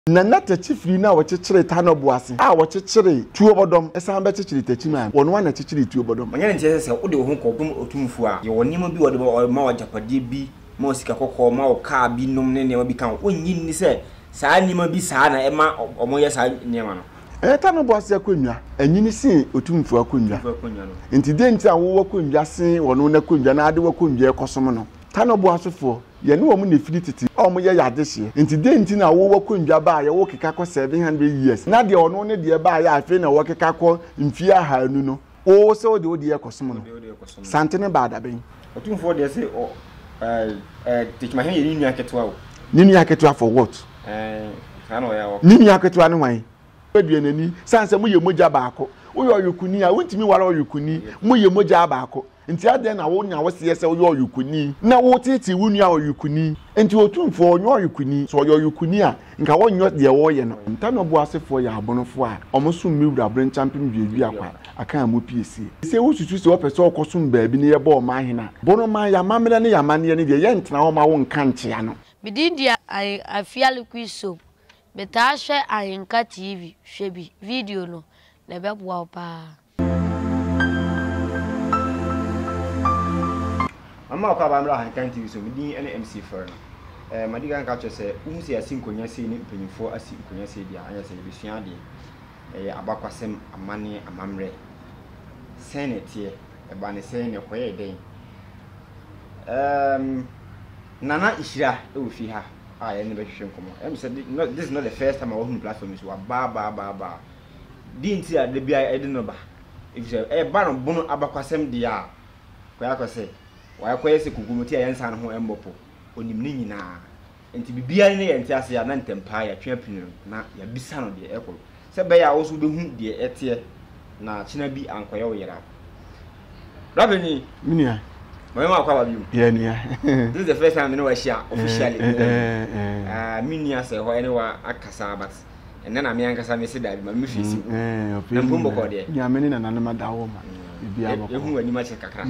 Na na takyifiri no a wɔkyekyere ta no bo ase a wɔkyekyere tuo bɔdɔm san bɛkyekyere takyi maa no. Wɔn ara na ɛkyekyere tuo bɔdɔm. Ɔnyɛ ne nteɛ sɛ sɛ wode wo ho kɔ dom otumfoɔ a, yɛwɔ nneɛma bi a ɔde bɛma, ɔma wo agyapadeɛ bi, ma wo sika kɔkɔɔ, ma wo kaa bi nom ne nneɛma bi ka ho. Wonnye nni sɛ saa nneɛma bi saa na ɛma wɔyɛ saa nneɛma no? Ɛyɛ ta no bo ase akonnwa. Ɛnyini sen otumfoɔ akonnwa. Enti dɛn nti na wowɔ konnwa sen ɔno n'akonnwa na wode w'akonnwa rekɔsom no? Ta no bo asefoɔ, Yɛne wɔn na ɛfiri tete a wɔyɛ yɛ adehyeɛ, enti dɛn nti na wo w'akondwa baeɛ wokeka kɔ 700 years na deɛ ɔno ne deɛ baeɛ a afei na wɔkeka kɔ mfie ahaanu no wo wo sɛ wode wo deɛ rekɔsom no? Sante no baa dabɛn? Otumfoɔ deɛ se ɔ ɛɛ ɛɛ Tekyimahene yɛ ne nua ketewa o. Ne nua ketewa for what? Ɛɛ saa na ɔyɛ awɔ. Ne nua ketewa ne hwan? Dua n'ani sane sɛ moyɛ mogya baako. Woyɛ ɔyokuni a wontumi ware ɔyokuni, moyɛ mogya baako. Enti adɛn na wonya wo seɛ sɛ woyɛ ɔyokuni na woteetee wo nua ɔyokuni? Enti Otumfoɔ ɔnyɛ ɔyokuni? Sɛ ɔyɛ ɔyokuni a, nka ɔnyɛ deɛ ɔreyɛ no. Ntano boasefoɔ yɛ abonofoɔ a wɔsom me wura Brenchampem Duaduakwa Akanmu Piesie. Sɛ wosusu sɛ wɔpɛ sɛ wɔkɔsom baabi na yɛbɔ wɔn ahena, Bonoman, y'amammerɛ ne y'amanneɛ ne deɛ, yɛntena hɔ mma wo nka nkyea no. Me din de Ahen Afiali Quisom. Me taa hwɛ Ahenka TV, hwɛ bi, video no, na ɛbɛboa wo paa. Mama ɔkɔ aba mmra ha nka nti so me din ne MC Fɛre no. Eh, madi kan ka kyerɛ sɛ wohu sɛ yɛasi nkonnwa sei ne mpanyinfoɔ asi nkonnwa sei deɛ a, ɛnyɛ sɛ yɛbɛsua adeɛ. Ɛyɛ abakwasɛm, amanneɛ, amammerɛ. Sɛn na ɛteɛ? Ɛbaa ne sɛn na ɛkɔyɛɛ dɛn? Um, Nana Nhyira wɔ fie ha a yɛne bɛhwehwɛ nkɔmmɔ. Ɛm sɛ this is not the first time a wahunu platform yi so, wabaa baa baa baa. Deɛ nti a da biara ɛde no ba, ɛfiri sɛ ɛba no bono abakwasɛm deɛ a, kɔyɛ akɔ sɛ, wayɛ kɔyɛ sɛ kokomoti a yɛn nsa no ho mmɔ po, ɔnim ne nyinaa. Nti biribiara na yɛnte aseɛ a, na ntɛm paa yɛatwe apini no na yɛabisa no deɛ ɛrekɔ no, sɛ ɛbɛyɛ a wo nso wobɛhu deɛ ɛteɛ na akyena bi ankɔyɛ wo yera. Bra panin! Me nua. Ma me ma akɔ aba biom. Yeah, nua. This is the first time me ne wa ahyia officially. Eh, eh, eh. Ah, me nua sɛ hɔ ɛne wa akasa but Ɛnnɛ na me ankasa mese dabi ma me face gu. Na mpo mbɔkɔɔ deɛ. Nua me ne nananom ada wo ma biribiara bɔkɔɔ. Yɛhu w'anim akyɛ kakra.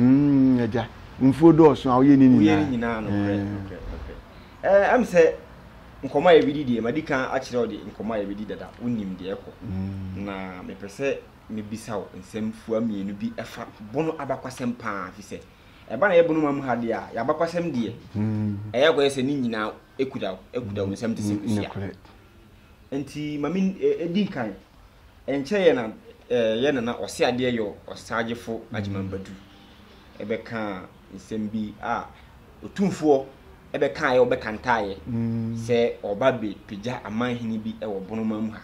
Agya, mfuo dɔɔso a woyɛ ne nyinaa. Woyɛ ne nyinaa nokorɛ nokorɛ nokorɛ. Ɛm sɛ nkɔmmɔ a yɛbɛdi deɛ madi kan akyerɛ wo deɛ nkɔmmɔ a yɛbɛdi dada wonim deɛ ɛkɔ. Na mepɛ sɛ mebisa wo nsɛm fua mmienu bi ɛfa Bono abakwasɛm pa ara ɛfiri sɛ ɛba na yɛ Bono man mu ha deɛ a yɛabakwasɛm deɛ ɛyɛ akɔyɛ sɛ ne nyinaa ɛkuta wo ɛkuta wo nsam te sɛ kosua. Nti ma me edi nkan. Ɛnkyɛ yɛ na eh, yɛ nana ɔse adeɛ yɔ ɔsagyefo Agyeman Badu ɛbɛkaa nsɛm bi a Otumfoɔ ɛbɛkaeɛ ɔbɛkantaaeɛ sɛ ɔba bɛ pagya amanhene bi ɛwɔ Bonoman mu ha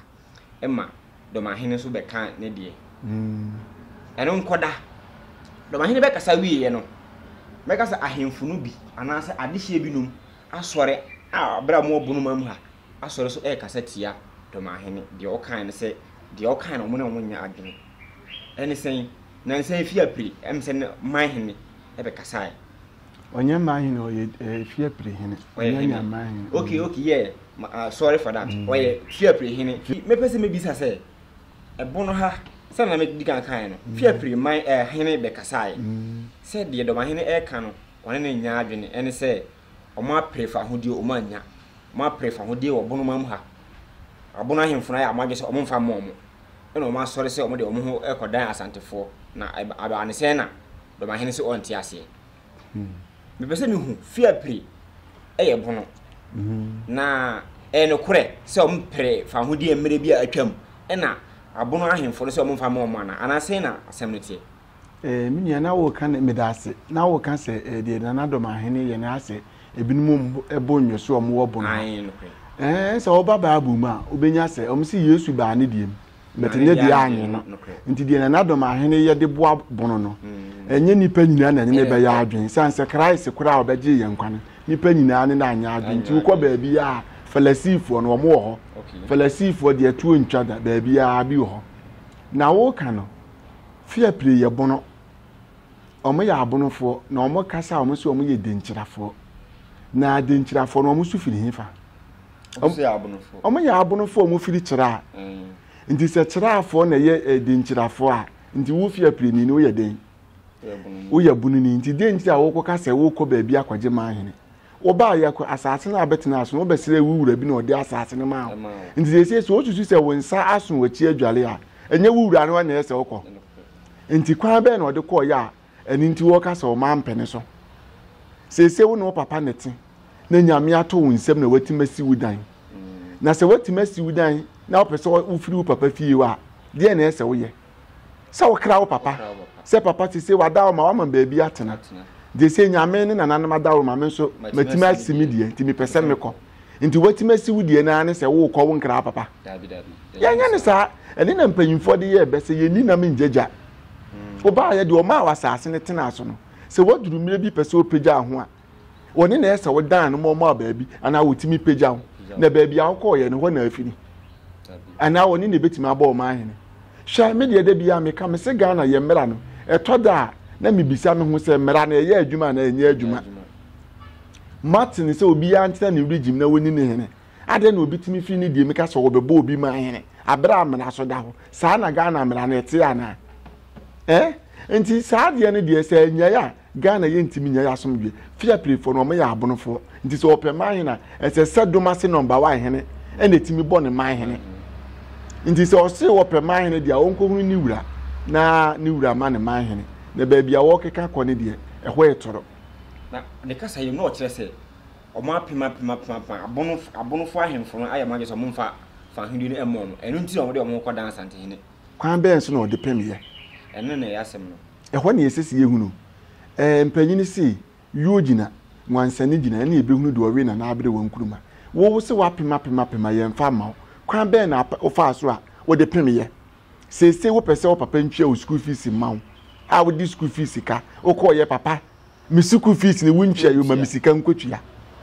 ɛma Dɔmahene nso bɛkaa ne deɛ. Ɛno nkɔda. Dɔmahene bɛkasa wieɛ no, mɛka sɛ ahemfo no bi anaasɛ adehyeɛ binom asɔre a berɛ a wɔwɔ Bonoman mu ha asɔre so rekasa tia Domahene, deɛ ɔkae no sɛ, deɛ ɔkae no wɔn ne wɔn nyɛ adwene. Ɛne sɛn? Nansa yi fie apiri, ɛm sɛ ne Manhene ɛbɛkasae. Ɔnyɛ Manhene, ɔyɛ eh, fie apiri hene. Ɔnyɛ nya Manhene. Okay, mm. okay, yeah, uh, sorry for that. Mm. Ɔyɛ fie apiri hene. Mepɛ sɛ mebisa sɛ, ɛbo no ha, sɛ na medi kan kae no, mm. fie apiri man eh, hene bɛkasae. Mm. Sɛ deɛ Domahene ɛreka no, wɔne no nnya adwene ne sɛ wɔapere fahodie wɔn annya. Wɔapere fahodie wɔ bono mam ha. Abono ahemfo no ayɛ wɔn adwene sɛ wɔmfa mma wɔn. Ɛna wɔn asɔre sɛ wɔde wɔn ho rekɔdan Asantefoɔ. Na ɛbaa ne sɛn na Dɔmahene se ɔnte aseɛ. Mepɛ sɛ mehu fie a pire ɛyɛ bono. Na ɛyɛ nokorɛ sɛ wɔpere fahodie mmerɛ bi a atwam. Ɛna abono ahemfo no sɛ wɔmfa mma wɔn anaa? Anaa sɛn na asɛm no teɛ? Eh, me nua, na woka ne meda ase. Na woka sɛ eh, deɛ Nana Dɔm Ahene yɛ no asɛ ebinom bo nnwo so wɔn wɔ bon ha. Eh, sɛ wɔba Bible mu a, wobɛnya sɛ wɔn si Yesu baa ne deɛ mu. Bɛte ne deɛ anwe no. Nti deɛ Nana Dɔm Ahene yɛ de boa bono no, mm. ɛnyɛ nipa nyinaa na ɛne ne bɛyɛ adwene. San sɛ Christ koraa a ɔbɛgye yɛn nkwa no, nipa nyinaa ne na anyɛ adwene. Nti wokɔ baabi a Falasifoɔ no wɔn wɔ hɔ. Falasifoɔ deɛ tuo ntwa da baabi a bi wɔ hɔ. Na woka no, Fie prii yɛ bono. Ɔmo yɛ abonofoɔ, na ɔmo kasa a ɔmo se ɔmo yɛ denkyirafoɔ. Na denkyirafoɔ no ɔmo so firi hefa? Ɔmo yɛ abonofoɔ. Ɔmo yɛ abonofoɔ a ɔmo firi kyira. Mm. Nti sɛ kyirafoɔ na ɛyɛ eh, denkyirafoɔ a, nti wo fie prii ni no woyɛ den? Woyɛ bono ni. Nti den nti a wokɔka sɛ wokɔ baabi akɔgye maa hene? Wɔbaa Yakob asase no a bɛtenaa so no, wɔbɛsrɛɛ wo wura bi na ɔde asase no maa wo. Nti seesei sɛ wosusu sɛ wo nsa aso w'akyi adware a, ɛnyɛ wo wura no ara na ɛyɛ sɛ wokɔ. Nti kwan bɛn na ɔde kɔɔeɛ a ɛno nti wɔka sɛ ɔma mpɛ ne so? Seesei wo ne wo papa na ɛte, na Nyame ato wo nsam na watumi asi wo dan. Na sɛ watumi asi wo dan na wopɛ sɛ wofiri wo papa fie hɔ a, deɛn na ɛyɛ sɛ woyɛ? sɛ wokra wo papa sɛ papa sese wada wo ma wama baabi atena de sɛ nyame ne nananom ada wo ma me nso matumi asi me deɛ nti mepɛ sɛ mekɔ nti watumi asi wo deɛ naa ne sɛ wokɔ wo nkra papa yɛnyɛ ne saa ɛne na mpanyimfoɔ de yɛ ɛbɛ sɛ yɛni nam ngyagya hmm. wobaayɛ deɛ ɔmaa wɔ asase no tenaa so no sɛ waduru mmerɛ bi pɛ sɛ ɔpɛgya ho a Wɔne na ɛsɛ wodan no ma ɔma baabi anaa wɔtumi pagya wo na baabi a wokɔɔyɛ no hɔ na afiri anaa wɔne na ɛbɛtumi abɔ ɔma ahene hwɛ me deɛ da biara meka me se Ghana yɛ mmara no ɛtɔ da a na mebisa me ho sɛ mmara no ɛyɛ adwuma anaa ɛnyɛ adwuma mate ne sɛ obiara ntena ne regime na wɔni ne hene adɛn na obi tumi firi ne deɛ meka sɛ wɔbɛbɔ obi ma ahene aberɛ a mmara so da hɔ saa na Ghana mmara no ɛte anaa eh? nti saa deɛ no deɛ sɛ anyae a Ghana yɛ ntimi nyɛ asomdwe fia pire foɔ no ɔmo yɛ abonofoɔ nti sɛ ɔpɛ man hene a ɛsɛ sɛ domase nɔmba wa hene ɛna ɛtimi bɔ ne man hene nti sɛ ɔse ɔpɛ man hene deɛ ɔnkɔhunu ne wura na ne wura ma ne man hene na baabi a wɔkeka kɔ ne deɛ ɛhɔ yɛ toro. Na ne kasa yi no ɔkyerɛ sɛ ɔmo apem apem apem apem abono abonofoɔ ahemfo no ayɛ ɔmo adwene sɛ ɔmo mfa fa ahennie no ɛmɔ ɔmo ɛno nti na ɔmo de ɔmo kɔ dan asantehene. Kwan bɛn so na ɔde pem yɛ? Ɛno na ɛyɛ asɛm no. Ɛhɔ na ɛsɛ sɛ yɛhunu. Ɛɛ, mpanyini se, Yuo gyina, Wansane gyina, ɛne yɛbɛhunu deɛ ɔwe na n'abere wɔ nkuruma. Wo wo se woapem apem apem a yɛmfa mma wo. Kwan bɛn na wofaa so a wode pemeeɛ? Seesei wopɛ sɛ wo papa ntua wo sukuu fees mma wo a wode sukuu fees ka, wokɔeɛ papa Me sukuu fees ne wo ntua yoma me sika nkotua.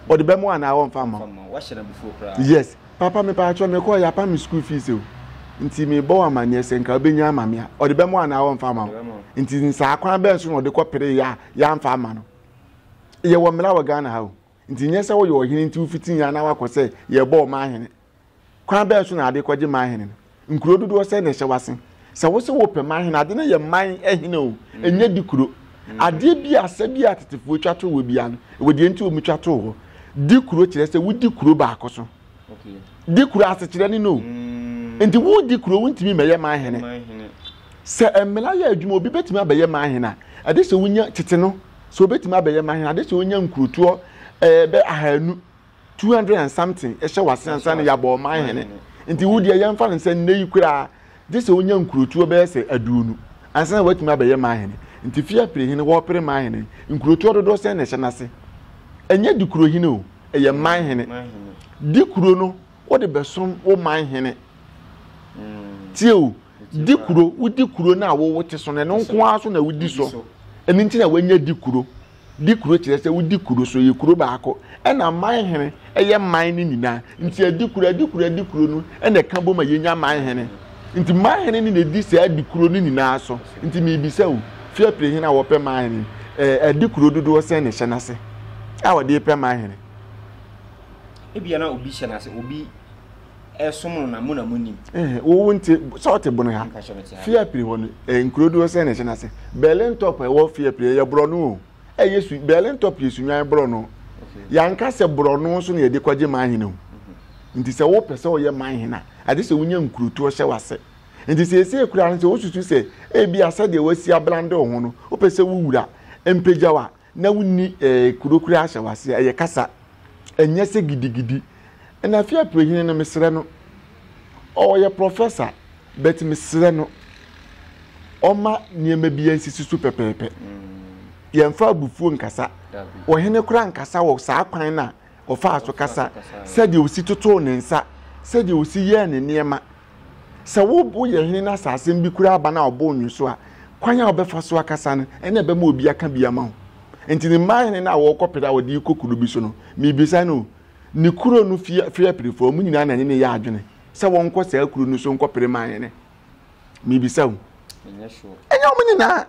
Ɔde bɛma wo anaa ɔmfa mma wo. Yes, papa me paatwɔ me kɔɔ yapa me sukuu fees o. Nti me bɔ wo amaneɛ sɛ nka wobɛnya ama me a. Ɔde bɛma wo anaa ɔmfa ama wo. Nti nsaa kwan bɛn so na ɔde kɔ pere yɛ a yɛamfa ama no. Yɛwɔ mmara wɔ Ghana ha o. Nti nyɛ sɛ woyɛ ɔhene nti wofiti yɛn anaa wakɔ sɛ yɛbɔ ɔman hene. Kwan bɛn so na ade kɔgye man hene no? Nkuro dodoɔ sɛn na ɛhyɛ w'ase? Sɛ wo se wopɛ man hene, ade no yɛ man hene o, ɛnyɛ di kuro. Adeɛ bi a asɛ bi a tetefoɔ twa too hɔ bia no, ɛwɔ deɛ nti wɔn twa too hɔ. Di kuro kyerɛ sɛ wodi kuro baako so. Di kuro asekyerɛ ne no o. Nti wodi kuro wontumi mɛyɛ man hene. Sɛ mmela yɛ adwuma obi bɛtumi abɛyɛ man hene a, ɛde sɛ wonya tete no, sɛ obɛtumi abɛyɛ man hene, ɛde sɛ wonya nkurotoɔ ɛɛ bɛ ahanu. two hundred and something ɛhyɛ wase ansa na yɛabɔ ɔman hene nti wo deɛ yɛmfa no sɛ nnɛ yi koraa gye sɛ wonya nkurotuo bɛyɛ sɛ aduonu ansa na woatumi abɛyɛ man hene nti fie apere hene wɔpere man hene nkurotuo dodoɔ sɛn na ɛhyɛ n'ase ɛnyɛ di kuro hene o ɛyɛ man hene di kuro no wode bɛsom wo man hene mm. tie o di kuro wodi kuro no a wowo te so no ɛno nko ara so na wodi so ɛno nti na wanya di kuro di kuro kyerɛ sɛ wodi kuro so yɛ kuro baako ɛna man hene ɛyɛ man no nyinaa nti adi kuro adi kuro adi kuro no ɛna ɛka bom a yɛnya man hene nti man hene ne na ɛdi saa adi kuro no nyinaa so nti meebisa o fia pire hene a wɔpɛ man hene ɛɛ adi kuro dodoɔ sɛn na ɛhyɛ n'ase a wɔde pɛ man hene ebi na obi hyɛ n'ase obi ɛsom no na mo na mo nim. wowu nti sɛ ɔte bono ha fiapiri hɔ no nkuro doɔ sɛ na ɛhyɛ n'ase berlin top a ɛwɔ fiapiri ɛyɛ borɔno o ɛyɛ su berlin top yɛ sunwan borɔno yanka sɛ borɔno so na yɛde kɔgye manhene o mhm. nti sɛ wopɛ sɛ ɔyɛ manhene a agye sɛ wonya nkurotoɔ hyɛ wase nti sɛ ɛsɛ kura no sɛ wosusu sɛ ebi asɛ deɛ wasi ablande ho no wopɛ sɛ wowura mpagya wa na wonni kuro kura ahyɛ w'aseɛ ɛyɛ kasa ɛnyɛ sɛ gidigidi ɛna afei apirehene no mesrɛ no ɔyɛ professor but mesrɛ no ɔma nneɛma bi nsisi so pɛpɛɛpɛ yɛmfa abufuo nkasa ɔhene kora nkasa wɔ saa kwan no a ɔfaa so kasa sɛdeɛ ɔsi totoo ne nsa sɛdeɛ ɔsi yɛɛ ne nneɛma Sɛ wobo yɛ hene no asasem bi koraa ba na ɔbo nnwo so a, kwan a wobɛfa so akasa no na ɛbɛma obi aka bi ama wo. Enti ne mmaa hene no a wɔrekɔpere a wɔde rekɔ kuro bi so no, mebisa no, ne kuro no fie aperefoɔ, wɔn nyinaa na ɛne no yɛ adwene sɛ wɔnkɔ saa kuro no so nkɔpere mmaa hene? Mebisa o. Ɛnyɛ wɔn nyinaa.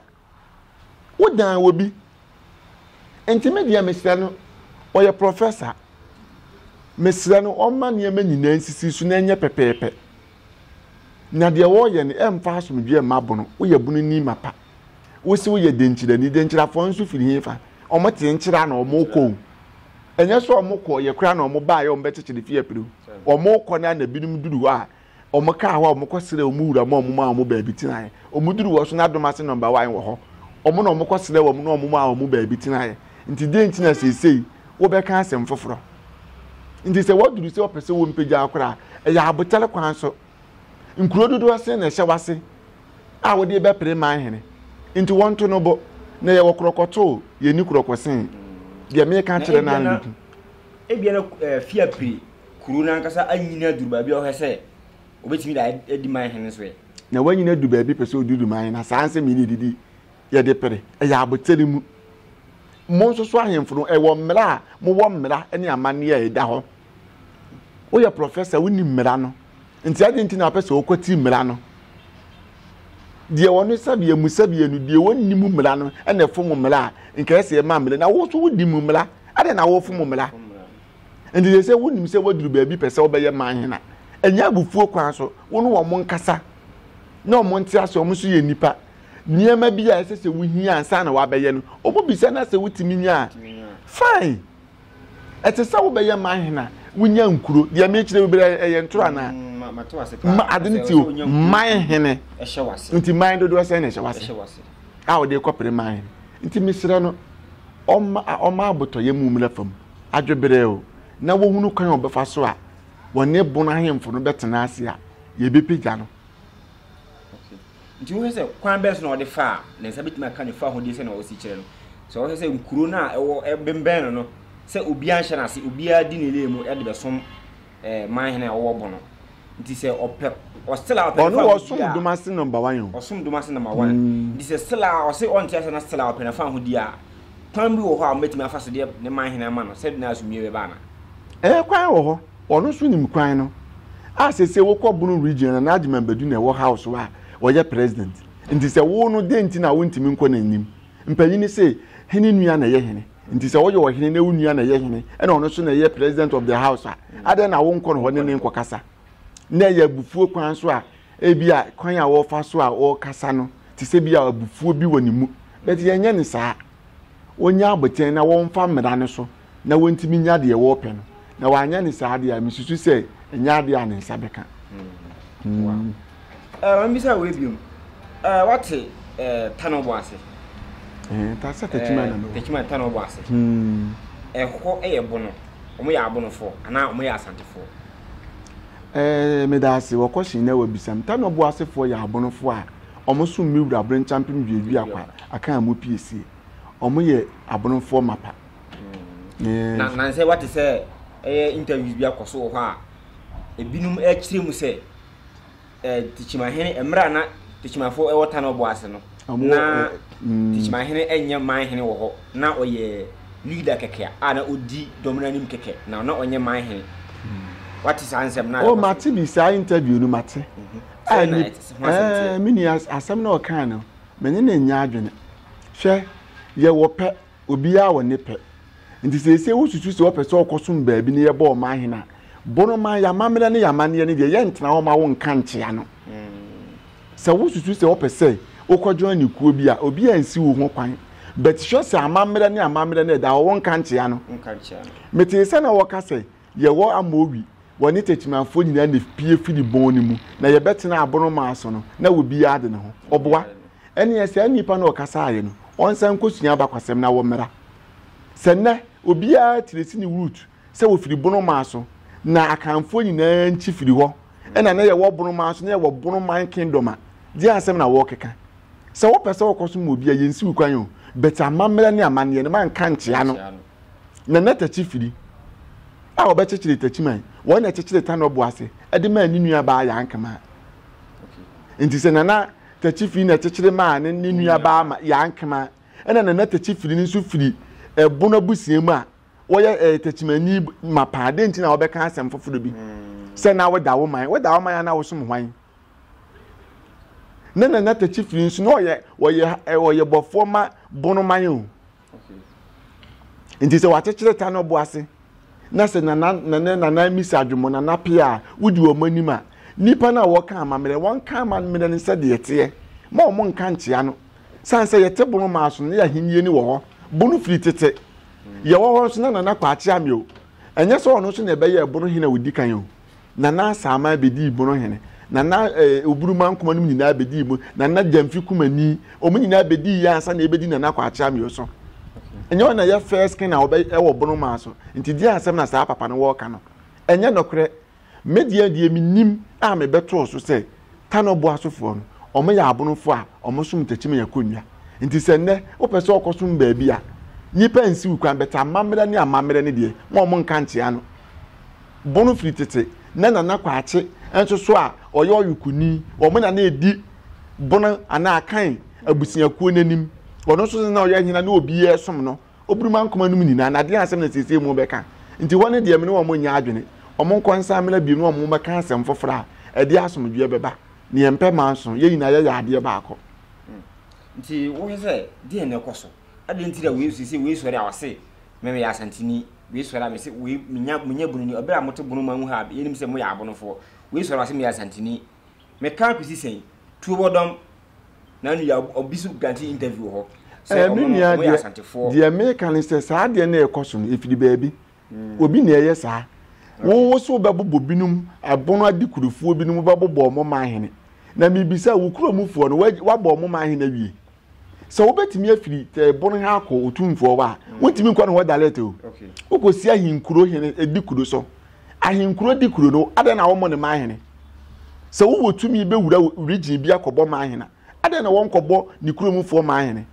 Wo dan wɔ bi. Nti me deɛ mesrɛ no ɔyɛ prɔfɛsa. Mesrɛ no ɔmma nneɛma nyinaa nsisi so na ɛnyɛ pɛpɛɛpɛ. Na deɛ wɔreyɛ no ɛmfa asomdwoeɛ mma bono. Woyɛ bononi mapa. Wose woyɛ denkyirani. Denkyirafoɔ nso firi hefa? Wɔte nkyira na wɔrekɔ o. Ɛnyɛ sɛ wɔkɔeɛ koraa na wɔbaeɛ wɔbɛkyekyere fie apire o. Wɔrekɔ no ara na binom duru hɔ a Wɔkaa hɔ a wɔkɔsrɛɛ wɔn wura ma wɔmaa wɔn baabi tenaeɛ. Wɔduruu hɔ so na Dom Ase Number One wɔ hɔ. Wɔn na wɔkɔsrɛɛ wɔn na wɔmaa wɔn baabi tenaeɛ. Nti dɛn nti na seesei wobɛka asɛm foforɔ? Nti sɛ wɔduru sɛ wɔpɛ sɛ wɔmpagya wo koraa a, ɛyɛ abotare kwan so. Nkuro dodoɔ sɛn na ɛhyɛ w'ase a wode bɛpere man hene? Nti wɔnto no bo. Na yɛwɔ korɔkɔto o, yɛnni korɔkɔsee. Deɛ meka kyerɛ no ara na ɛdi ku. Ebia na eh, fie apire kuro no ankasa anyini aduru baabi a ɔhwɛ sɛ obetumi da adi man hene nso ɛ. Na wanyini adu baabi pɛ sɛ ɔduru man na saa nsɛm yi na ɛdidi yɛde pere ɛyɛ abotere mu. Mo nso so ahemfo no ɛwɔ mmara a mowɔ mmara ne amanneɛ a ɛda hɔ. Woyɛ prɔfɛsa wonim mmara no nti adɛn nti na wopɛ sɛ wokwati mmara no? Deɛ wɔn sɛbeɛ mu sɛbeɛ no deɛ wɔnni mu mmara no ɛna ɛfom mmara a nka ɛsɛ ɛma mmara na wo nso wodi mu mmara adɛn na wofom mmara? Enti sɛ sɛ wonim sɛ woaduru baabi pɛ sɛ wobɛyɛ man hena, ɛnyɛ abufuo kwan so, wo ne wɔn nkasa na wɔn nte ase, wɔn nso yɛ nnipa. Nneɛma bi a ɛsɛ sɛ wohia ansa na wɔabɛyɛ no, wɔbisa na sɛ wotumi nya a, fine. Ɛte sɛ wobɛyɛ man hena, wonya nkuro. Deɛ mekyerɛ wo bira ɛyɛ ntoro anaa? Mm, ma ade no ti o, man hene. Nti man dodoɔ sɛn na ɛhyɛ wase a wɔde kɔpere man hene. Nti mesrɛ no, ɔma abotɔyɛ mu mmra fam. adweberɛw na wohunu kwan a wɔbɛfa so a wɔne bon ahemfo no bɛtena ase a, yebepagya no. Okay. Nti wohwɛ sɛ kwan bɛn so na ɔde fa a ne nsa betumi aka ne fahodie sɛnea ɔsi kyerɛ no. Sɛ ɔhwɛ sɛ nkuro no a ɛwɔ ɛbembɛn no no sɛ obiara nhyɛ n'ase, obiara di ne lane mu de bɛsom eh, man hene a ɔwɔ bono. Nti sɛ ɔpɛ ɔsela ɔpɛ Ɔno wɔ som doma se number one yo. Ɔsom doma se number one. Mm. Nti sɛ sela ɔse ɔnte ase na sela ɔpɛ na fa ho di a kwan bi wɔ hɔ a ɔmɛtumi afa so deɛ ne man hene ama no sɛde na asomdwie bɛba ana. Ɛɛ eh, kwan wɔ hɔ. Ɔno nso nim kwan no. A sɛ sɛ wokɔ bono region na n'agyeman badu na ɛwɔ house wa ɔyɛ president. Nti sɛ wo no dɛn nti na wontumi nkɔ n'anim. Mpanyini se hene nua na ɛyɛ hene. nti sɛ woyɛ ɔhene na wo nua na ɛyɛ hene ɛna ɔno nso na ɛyɛ president of the house a adɛn na wonkɔ no hɔ ne ne nkɔkasa na ɛyɛ abufuo kwan so a ebi a kwan a wɔfa so a wɔkasa no te sɛ bi a abufuo bi wɔ ne mu bɛti yɛnyɛ ne saa wɔnya abotɛn na wɔmfa mmara no so na wɔntumi nya deɛ wɔpɛ no na wanyɛ ne saa deɛ a mesusu sɛ ɛnyɛ adeɛ a ne nsa bɛka mm. eh, maame bisa wei biom eh, wate eh, tano bɔ ase sɛ takyima na mewɔ takyima tano bɔ ase hmm. ɛhɔ yɛ bono wɔn yɛ abonofoɔ anaa wɔn yɛ asantefoɔ ɛɛ meda ase wɔkɔ hyɛn na wɔbisam tano bɔ asefoɔ yɛ abonofoɔ a wɔn so mmewura abere nkyɛn mpem duadua akwa akan mu piesie wɔn yɛ abonofoɔ mapa mm. na na sɛ wate sɛ ɛyɛ interviews bi akɔ so wɔ hɔ a ebinom akyerɛ mu sɛ ɛɛ tikyimahene mmerɛ a na tikyimafoɔ ɛwɔ tan ɔbɔ ase no na mm. tikyimahene ɛnyɛ man hene wɔ hɔ na ɔyɛ leader kɛkɛ a na ɔdi dɔm no anim kɛkɛ na na ɔnyɛ man hene mm. wate saa nsɛm no o oh, mate bi saa interview no mate mhm. ah, eh, meni asɛm na ɔkaa no mene ne nyɛ adwene hwɛ yɛwɔ pɛ Obiara wɔ ne pɛ. Nti seesei wosusu sɛ wɔpɛ sɛ wɔkɔsom baabi na yɛbɔ wɔn ahene a, bɔ no man, yɛn amammerɛ ne yɛn amanneɛ no deɛ, yɛntena hɔ ma wo nka nkyea no. Sɛ wosusu sɛ wɔpɛ sɛ wokɔjoin ne kuo bi a, obiara nsi wo ho kwan. But hwɛ sɛ amammerɛ ne amammerɛ no ɛda hɔ, wonka nkyea no. Metee sɛ na wɔka sɛ Yɛwɔ ama owi, wɔ ne tetemanfoɔ nyinaa na epue firi bɔn no mu, na yɛbɛtena aborɔmaa so no, na obiara de ne ho. Ɔboa. Ɛnneɛ saa nnipa no a ɔkasaaeɛ no, ɔnsan nkɔsua abakwasɛm na wɔmmra. Sɛ nnɛ, obiara tiri si ne root sɛ wɔfiri borɔmaa so, na Akanfoɔ nyinaa nkyi firi hɔ, ɛna na yɛwɔ borɔmaa so, na yɛwɔ borɔman kingdom a, deɛn asɛm na wɔrekeka? Sɛ wopɛ sɛ wokɔsom obi a, yɛnsi wo kwan o, but amammerɛ ne amanneɛ no, manka nkyea no. na na takyi firi a wɔbɛkyekyere takyi man wɔn na ɛkyekyere tanɔ bo ase ɛde maa ne nua baa yan kama nti sɛ nana takyi firi na ɛkyekyere maa ne ne nua baa ma yan kama ɛna nana takyi firi no nso firi ɛbono abusua mu a wɔyɛ ɛɛ takyimanyi ma paa de nti na wɔbɛka asɛm foforɔ bi mm. sɛ na wɔda wo man wɔda wo man a na wɔsom hwan ne nana takyi firi nso na ɔyɛ ɔyɛ ɔyɛ bɔfoɔ ma bono man o. nti sɛ wakyekyere ta no bo ase na sɛ nana nana nana misa adwuma nana pia a wodi wɔn anim a nipa no a wɔka amammerɛ wɔn ka amammerɛ no sɛ deɛ teɛ ma wɔn nka nkyea no san sɛ yɛte bono maa so ne ahenni ni wɔ hɔ bono firi tete yɛwɔ hɔ nso na nana kɔ akyea mi o ɛnyɛ sɛ ɔno nso na ɛbɛyɛ bono hene a odi kan o. na na Asaman bedii mono hene, na na eh, Oburumankoma nom nyinaa bedii mo, na na Gyamfi Kumani, wɔn nyinaa bedii yɛ ansa na ebedi Nana Kwakye Amio so. Ɛnyɛ wɔn na yɛ first king a wɔbɛ ɛwɔ bono maa so. Nti deɛ asɛm na saa papa no wɔɔka no. Ɛnyɛ nɔkorɛ. Me deɛ deɛ menim a mebɛtoo so sɛ Tano boa sofoɔ no, wɔn yɛ abonofoɔ a wɔn som ntakyima yɛ kɔnnwa. Nti sɛ nnɛ wopɛ sɛ ɔkɔ som baabi a, nnipa nsiw kwan, but amammerɛ ne amammerɛ ne deɛ, mo a wɔn nka nkyea no. Bono firi tete na Nana Kwakye nso so a ɔyɛ Ɔyokoni, wɔn na na ɛdi Bono anaa Akan abusuakuo no anim. Ɔno nso so na ɔyɛ hene a na obiara resom no, Oburumankoma nom nyinaa, na adeɛ asɛm na seesei morebɛka. Nti hɔ no deɛ me ne wɔn nnyɛ adwene, wɔn nkɔ nsan mmra bio na wɔn mmɛka asɛm foforɔ a ɛde asomdwoeɛ bɛba. Na yɛmpɛ manso, yɛn nyinaa yɛyɛ adeɛ baako. Nti wohwɛ sɛ deɛn na ɛkɔ so? Adɛn nti na wei seesei wei sɔre a wɔse Me meyɛ Asanteni. Wei sɔre a me se wei menya menya bunu ni. Ɔbɛrɛ a mote bunu mu a moha a yenim sɛ moyɛ abonofoɔ. Wei sɔre a ɔse meyɛ Asanteni. Me ka kɔsi sɛn? Tuo wɔ dɔm. Na no yɛ obi so granti interview wɔ hɔ. Sɛ ɔmo no ɔmo yɛ Asantefoɔ. Deɛ me ka ne sɛ saa deɛ na ɛkɔ so no efiri baabi. Hmm. Obi na ɛyɛ saa. Wo wo so bɛbobɔ binom abono adi kurofoɔ binom bɛbobɔ ɔmo ma ahene. Na mibisa wo kuromufoɔ no wabɔ ɔmo ma ahene awie? sɛ wobɛtumi afiri eh, bon ha akɔ otumfoɔ hɔ a mm. wontumi nkɔ no hɔ direct o wokɔsi ahenkuro hene eh, di kuro so ahenkuro di kuro no adɛn na wɔmmɔ ne ma ahene sɛ wowɔ tumi bɛwura region bi akɔbɔ ma ahena adɛn na wɔnkɔbɔ ne kuromfoɔ ma ahene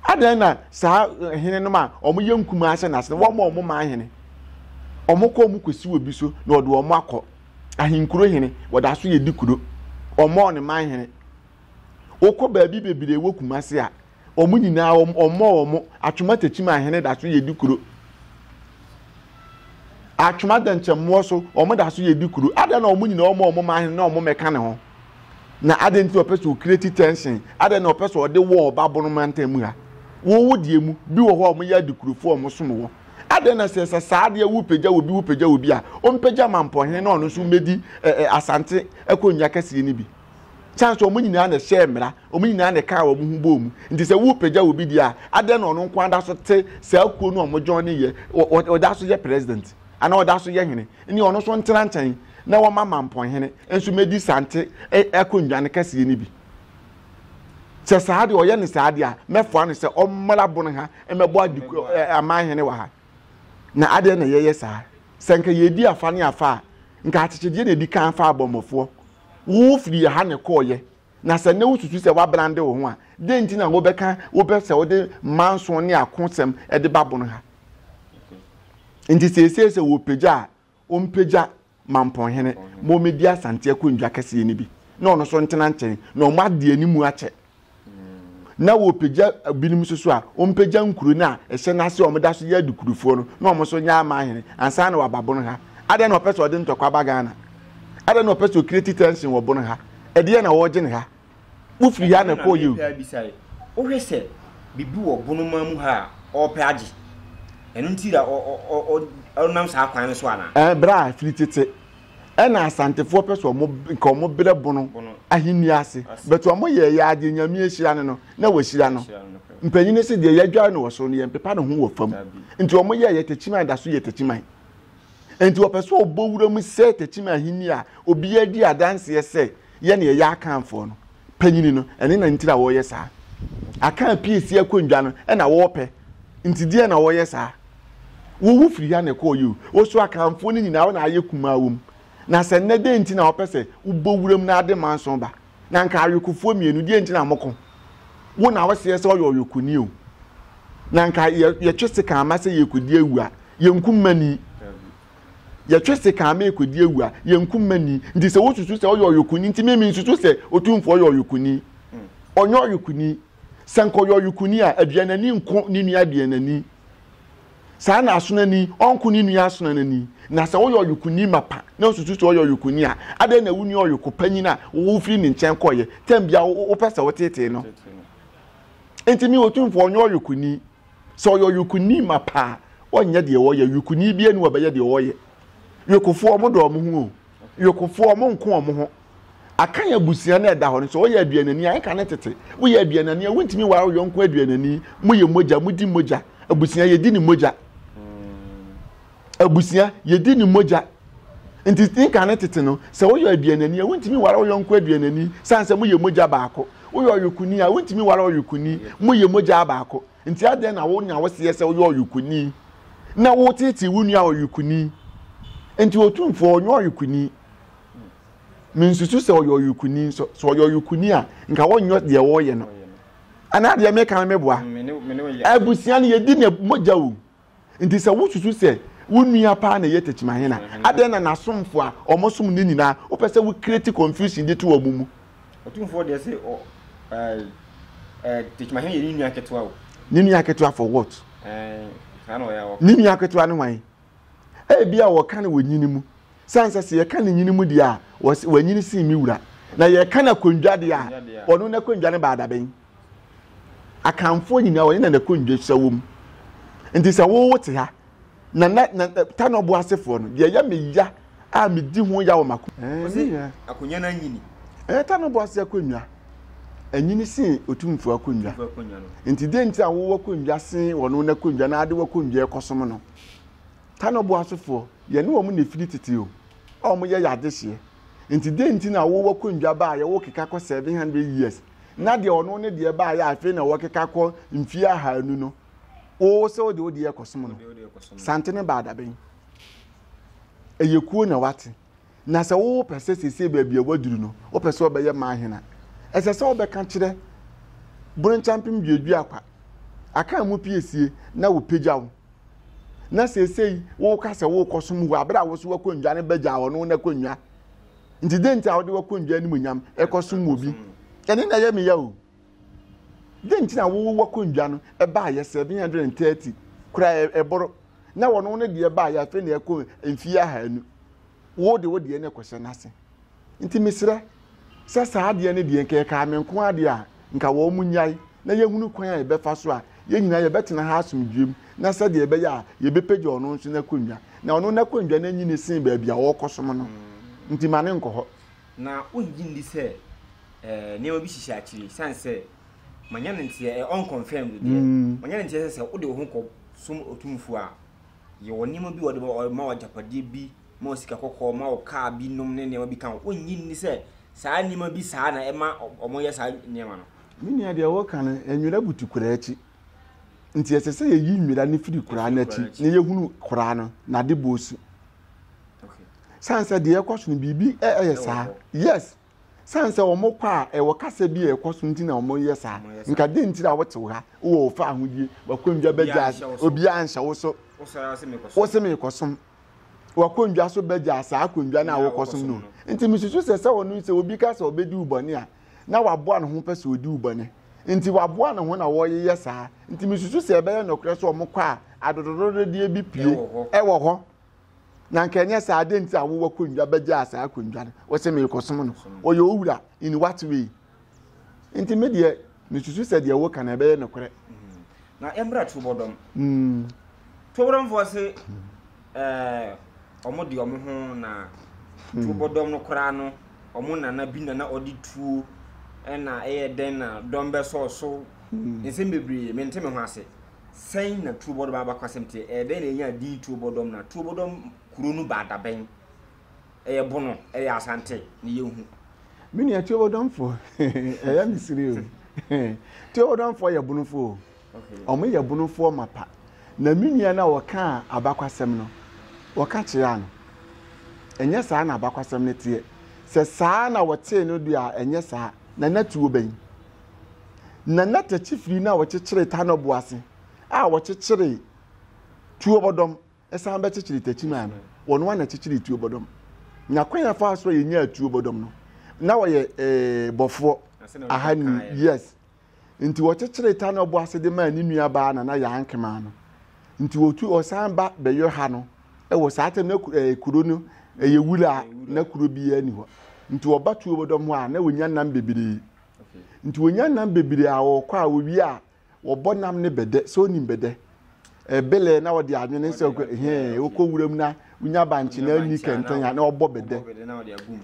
adɛn na saa eh, hene no ma wɔyɛ nkuma ase na ase wɔmmɔ wɔn ma ahene wɔkɔ wɔn kɔsi wɔ bi so na wɔde wɔn akɔ ahenkuro hene wɔda so yɛ di kuro wɔmmɔ ne ma ahene wokɔ baabi bebree wɔ kumase a wɔn nyinaa wɔn ɔmmɔ wɔn atwoma takyim ahene da so yɛ di kuro atwoma dɛnkyɛmmoɔ so wɔn da so yɛ di kuro adan na wɔn nyinaa wɔn wɔn ma ahene na wɔn mɛka ne ho na adan ti ɔpɛ so okireti tension adan na ɔpɛ so ɔde wɔ ɔba bono mantam mu ha wowo deɛ mu bi wɔ hɔ a wɔn yɛ adi kurofo wɔn som wɔ adan na sɛ sɛ saa adeɛ wo pagya wɔ bi wo pagya wɔ bi a wɔn pagya ma mpɔhene na ɔno nso mɛdi ɛɛ asante akonnwa kɛseɛ no bi san sɛ wɔn nyinaa na ɛhyɛɛ mmara wɔn nyinaa na ɛkaa wɔn ho bɔɔ mu nti sɛ wopagya wɔ bi deɛ a adɛn na ɔno nko ada so te saa kuo no a wɔgyɔn ne yɛ ɔda so yɛ president anaa ɔda so yɛ hene ne ɔno nso ntena nkyɛn na wɔma mampɔn hene nso mɛdi sante akonnwa no kɛseɛ no bi sɛ saa deɛ ɔyɛ ne saa deɛ a mɛfoa no sɛ ɔmmra bono ha mɛbɔ adi aman hene wɔ ha na adɛn na yɛyɛ saa sɛ nka yɛdi afa ne afa a nka akyekyedeɛ na ɛdi kan fa abɔmmɔfoɔ Wufirii ha na ɛkɔeɛ, na sɛ nnɛ wususu sɛ woabrande wo ho a, dɛn nti na wobɛka wopɛ sɛ wode mma nson ne akosɛm de ba bon ha? Enti seesei sɛ wɔrepagya a, wɔmpagya Mampɔnhene ma ommedi Asante akonnwa kɛseɛ no bi, na ɔno nso ntena nkyɛn, na wɔn adeɛ no mu akyɛ. na wɔpagya binom nso so a wɔmpagya nkuro no a ɛhyɛ n'ase a wɔda so yɛ adukurufoɔ no na wɔn nso nyɛ ama ahene ansa na wɔaba bono ha adɛn na ɔpɛ sɛ ɔde ntɔkwa ba ghana adɛn na ɔpɛ sɛ ɔkreti tension wɔ bono ha ɛdeɛ na wɔregye ne ha wofiri ha na ɛkɔɔ yɛ o wohwɛ sɛ biribi wɔ bono ma mu ha a ɔrepɛ agye ɛno nti na ɔnam saa kwan no so anaa eh, berɛ a firi tete ɛna asantefoɔ pɛ sɛ ɔmo nka ɔmo brɛ bono ahenni ase but ɔmo yɛ yɛ adeɛ nyame ahyira no no na wahyira no mpanyini se deɛ yɛadware no wɔ soro no yɛmpepa ne ho wɔ fam nti ɔmo yɛ yɛ takyiman da so yɛ takyiman nti ɔpɛ sɛ ɔbɔ wura mu sɛ takyiman ahenni a obiara di adanseɛ sɛ yɛne ɛyɛ akanfoɔ no panyini no ɛne na ntira wɔyɛ saa aka apiesi akonnwa no ɛna wɔpɛ nti deɛ na wɔyɛ saa wowu firi ha na ɛkɔɔ yi o woso akanfoɔ no nyinaa wɔn ayɛ kumaa wɔm na sɛ nnɛ deɛ nti na wɔpɛ sɛ wobɔ wuram na ade manson ba na nka awekofoɔ mmienu deɛ nti na moko wo na wɔseɛ sɛ ɔyɛ ɔwekoni o na nka yɛtwe se kan ama sɛ yɛkɔdi awu a yɛnku mmani yɛtwe sekan merekɔdi awu a, yɛnku mma ni. Nti sɛ wosusu sɛ ɔyɛ ɔyokuni nti me mensusu sɛ Otumfoɔ yɛ ɔyokuni. Ɔnyɛ ɔyokuni. Sɛ nka ɔyɛ ɔyokuni a, aduanani nko ne nua aduanani. Saa na asonani ɔnko ne nua asonanani. Na sɛ woyɛ ɔyokuni mapa na wosusu sɛ ɔyɛ ɔyokuni a, adɛn na wonni ɔyoko panyin a wofiri ne nkyɛn kɔeɛ tam bia wopɛ sɛ wotetee no? Nti me Otumfoɔ ɔnyɛ ɔyokuni. Sɛ ɔyɛ ɔyokoni mapa a, ɔnyɛ deɛ ɔyɛ. Yokoni biara ni ɔbɛyɛ deɛ ɔyɛ. Yokofoɔ ɔmo dɔ ɔmo ho o. Yokofoɔ ɔmo nko ɔmo ho. Akan abusua no a ɛda hɔ no, sɛ ɔyɛ aduanani a, ɛka ne tete. Woyɛ aduanani a, wontumi nware wo yɔnko aduanani. Moyɛ mogya, modi mogya. Abusua, yɛdi ne mogya. abusua, yɛdi ne mogya. Nti ne kane tete no, sɛ woyɛ aduanani a, wontumi nware wo yɔnko aduanani sane sɛ moyɛ mogya baako. Woyɛ ɔyokoni a, wontumi nware ɔyokoni, moyɛ mogya baako. Nti adɛn na wonya wo seɛ sɛ woyɛ ɔyokoni na wotetee wo nua ɔyokoni? Nti Otumfoɔ ɔnyɛ ɔyokoni. Mensusu sɛ ɔyɛ ɔyokoni nso. Sɛ ɔyɛ ɔyokoni a, nka wonyɛ deɛ wɔreyɛ no. Anaa deɛ meka no meboa? Abusua no yɛdi ne mogya o. Enti sɛ wususu sɛ wo nua paa na ɛyɛ takyimahen a, adɛn na n'asomfo a wɔsom no nyinaa, wopɛ sɛ wo create confusion de to wɔn mu? Otumfoɔ deɛ se ɔ ɛɛ ɛɛ takyimahen yɛ ne nua ketewa o. Ne nua ketewa for what? Ɛɛ saa na ɔyɛ a ɔka. Ne nua ketewa ne hwan? Ebi a wɔka no wɔ nyini mu. Sane sɛ sɛ yɛka no nyini mu deɛ a, wɔse wanyini sen me wura. Na yɛka no akondwa deɛ a, ɔno n'akondwa no baa dabɛn. Akanfoɔ nyinaa wɔne Nana Kondwo hyɛ wɔ mu. Nti sɛ wo wote ha, Nana, na, Tanɔbo asefoɔ no, deɛ ɛyɛ me ya a medi ho ya wɔ m'ako. Ɛɛ, me nua. Ɔse akonnwa no anyini. Ɛɛ, Tanɔbo ase akonnwa anyini sen Otumfoɔ akonnwa. Otumfoɔ akonnwa no. Nti deɛ nti a wo w'akonnwa sen wɔn no akonnwa na ade w'akonnwa rekɔsom no? Tanɔbo asefoɔ, yɛne wɔn na ɛfiri tete o, a wɔyɛ yɛn adehyeɛ. Nti deɛ nti na wo w'akonnwa ba a yɛwɔ keka kɔ 700 years na deɛ ɔno ne deɛ baa yɛ afei na wɔkeka kɔ mfie ahanu no oo sɛ wode wode yɛ kɔsom no sante ne baadabɛn ɛyɛ kuo na wate na sɛ wopɛ sɛ sese baabi a waduru no wopɛ sɛ ɔbɛyɛ ma ahena ɛsɛ sɛ wobɛka kyerɛ boronchampem duadua akwa aka mu piesie na wopagya wo na sesei woka sɛ wokɔsom wɔ abere a wo so wakɔ nnwa no bɛgya ɔno no akɔ nnwa nti dɛn nti a wode w'akondwa animuonyam kɔsom obi ɛne na ɛyɛ meya o dɛn nti na wowɔ w'akondwa no ɛbaayɛ seven hundred and thirty kura ɛboro na wɔn no deɛ baayɛ afei na ɛkɔ mfie ahanu wo de wo deɛ no ɛkɔhyɛ n'ase nti mesrɛ sɛ saa adeɛ no deɛ nka ɛkaa me nko adeɛ a nka wɔnnyae na yɛhunu kwan a yɛbɛfa so a yɛn nyinaa yɛbɛtena ha asomdwoeɛ mu na sɛdeɛ ɛbɛyɛ a yɛbɛpagya ɔno nso n'akonnwa na ɔno n'akonnwa no anyini sen baabi a ɔrekɔsom no nti ma ne nkɔ hɔ. Na wongye nni sɛ eh, nneɛma bi hyehyɛ akyiri sane sɛ manya no nteɛ eh, unconfirmed deɛ mm. manya no nteɛ sɛ sɛ wode wo ho kɔ som otumfoɔ a yɛwɔ nneɛma bi wɔde ma wagyapadeɛ bi ma wo sika kɔkɔɔ, ma wo kaa bi nom ne nneɛma bi ka ho. Wonnye nni sɛ saa nneɛma bi saa na ɛma wɔyɛ saa nneɛma no? Me nua, deɛ wɔka no, nwera butu kora akyi. Nti ɛsɛ sɛ yɛyi nwera no firi kora no akyi na yɛhunu kora no n'adebɔɔ su. Sane sɛ deɛ ɛkɔ so no biribi ɛyɛ saa. Yes. Sane sɛ wɔn kɔ a ɛwɔ kasa bi a ɛkɔ so nti na wɔn yɛ saa. Nka den nti na wɔte wo ha wɔ ofa ahodie wakɔndwa bɛgya obiara nhyɛ wo so. Wo se mekɔsom. wakondwa so bɛgya saa akondwa no a wokɔsom no nti mesusu sɛ sɛ ɔno sɛ obi ka sɛ ɔbɛdi wo bɔne a na waboa ne ho pɛ sɛ ɔdi wo bɔne nti waboa ne ho na wɔyeyɛ saa nti mesusu sɛ ɛbɛyɛ nɔkorɛ sɛ ɔmo kɔ a adododododeɛ bi pie ɛwɔ hɔ na nka ɛnyɛ saa adɛn nti a wowɔ kondwa bɛgya saa kondwa no wɔsɛ meekɔsom no ɔyɛ owura in what way nti me deɛ mesusu sɛ deɛ woka no ɛbɛyɛ nokorɛ mm. na ɛmmra tubɔdɔm mm. tubɔdɔmfoɔ se eh, ɔmo de ɔmo ho na mm. tubɔdɔm no koraa no ɔmo nana bi nana ɔde tuo ɛna ɛyɛ dɛn na dɔm bɛsɔɔ so mm. nsɛm bebree mente me ho ase sɛn na tubɔdɔm abakwasɛm teɛ ɛyɛ dɛn na ɛnya din tubɔdɔm na tubɔdɔm kuro no baadabɛn ɛyɛ bono, ɛyɛ asante ne yɛhu. Me nua Tuobodɔmfoɔ ɛyɛ me siri o. Tuobodɔmfoɔ yɛ bonofoɔ o. Wɔn yɛ bonofoɔ mapa. Na me nua no a wɔkaa abakwasɛm no, wɔka kyerɛ no. Ɛnyɛ saa na abakwasɛm no teɛ. Sɛ saa na wɔtee no deɛ a ɛnyɛ saa. Na na tuo bɛn. Na na takyifiri no a wɔkyekyere tanɔbo ase a wɔkyekyere tuobɔdɔm Ɛsan bɛkyekyere takyimaa no. Wɔn ara na ɛkyekyeree tuo bɔdɔm. Nya kwan a faa so a yɛnyaa tuo bɔdɔm no, na wɔyɛ eh, bɔfoɔ ahanu. Yes. Nti wɔkyekyeree ta na ɔbɔ ase de maa ne nua baa na na yɛn nkemaa no. Nti wɔtu ɔsan ba bɛyɔ ha no wɔ saa tam na eh, kuro no ɛyɛ wura na kuro biara ni hɔ. Nti wɔba tuo bɔdɔm hɔ a na wɔnya nam bebree. Nti wɔnya nam bebree a wɔkɔ a wɔwie a Wɔbɔ nam ne bɛdɛ sɛ onim bɛdɛ. Ɛbelɛ na ɔde adwene sɛ ɔkɔ hɛn ɔkɔ wuram na wonya bankye na ani kɛntɛn a na ɔbɔ bɛdɛ.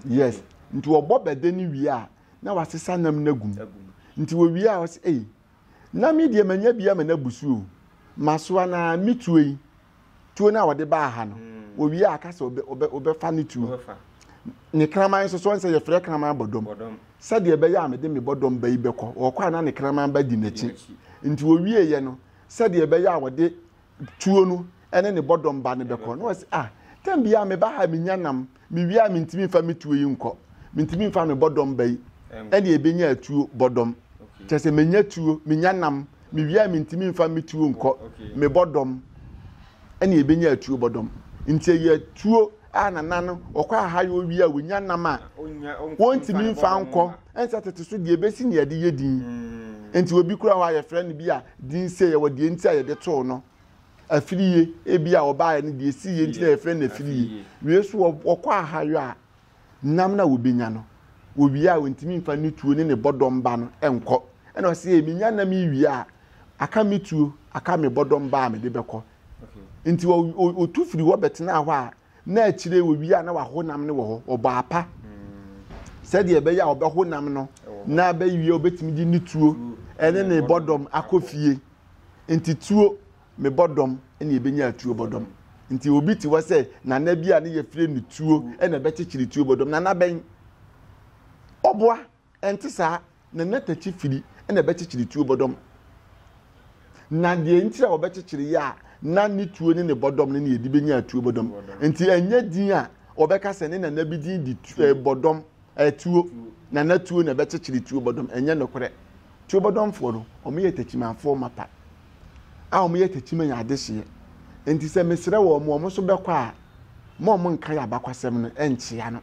Yes nti wɔbɔ bɛdɛ ne wie a na wasesa nam no agum. Nti wɔwie a ɔsɛ ei nam yi deɛ manya bi ama no abu so o. Masoa na metuo yi tuo no a wɔde baa ha no mm. wɔwie a aka sɛ wɔbɛfa no tuo ne kraman nso so sɛ yɛfrɛ kraman bɔdɔm sɛdeɛ ɛbɛyɛ a mede me bɔdɔm ba yi bɛkɔ wɔkɔ a na ne kraman ba di n'akyi nti wɔwieeɛ no sɛdeɛ ɛbɛyɛ a wɔde tuo no ɛne ne bɔdɔm ba no bɛkɔ na wɔsi ah tɛm bia meba ha menya nam Me wie a mentumi mfa me tuo yi nkɔ mentumi mfa me bɔdɔm ba yi ɛne ɛbɛnya atuo bɔdɔm kyɛ sɛ menya tuo menya nam me wie a mentumi mfa me tuo nkɔ me bɔdɔm ɛne ɛbɛnya atuo bɔdɔm nti ɛyɛ tuo a nana no ɔkɔ aha yɛ owie a wɔnya nam a wɔntumi mfa nkɔ ɛnsɛ tete so deɛ ɛbɛsi ne yɛde yɛ din nti obi kura hɔ a yɛfrɛ no bi a din sɛ yɛwɔ deɛ nti a yɛde too no Afirie, ebi a ɔbaeɛ no deɛ ɛsii yɛ nti na yɛfrɛ no afirie. Wei nso wɔkɔ ahayɔ a, nam no a wɔbɛnya no, wɔwie a wɔntumi mfa ne tuo ne ne bɔdɔmba no nkɔ. Ɛna ɔsɛ yɛ menya nam yi wie a, aka me tuo, aka me bɔdɔmba a mede bɛkɔ. Nti ɔtu firi hɔ bɛtenaa hɔ a, Na akyire yi wɔwie a na wahonam no wɔ hɔ, ɔbɔ apa sɛdeɛ ɛbɛyɛ a ɔbɛhonam no na abɛwie a ɔbɛtumi de ne tuo ɛne ne bɔdɔm akɔ fie. Nti tuo me bɔdɔm ɛne ɛbɛnya atuo bɔdɔm. Nti obi te hɔ sɛ nana bi a ne yɛfrɛ no tuo ɛna ɛbɛkyekyere tuo bɔdɔm. Nana bɛn? Ɔboa Ɛnte saa, na na takyi firi na ɛbɛkyekyere tuo bɔdɔm. Na deɛ nti a wɔbɛkyekyere yɛ a na ne tuo ne ne bɔdɔm ne ne yɛdi bɛnya atuo bɔdɔm. Nti ɛnyɛ din a wɔbɛka sɛ ne nana bi din de tu, eh, bɔdɔm, eh, tuo, nana tuo na ɛbɛkyekyere tuo bɔdɔm. Ɛnyɛ nokorɛ. Tuo bɔdɔmfoɔ no, wɔyɛ takyimafoɔ mapa. a wɔyɛ takyima yɛ adehyeɛ nti sɛ mesrɛ wɔn wɔn nso bɛkɔ a ma wɔn nka yɛ abakwasɛm no nkyea no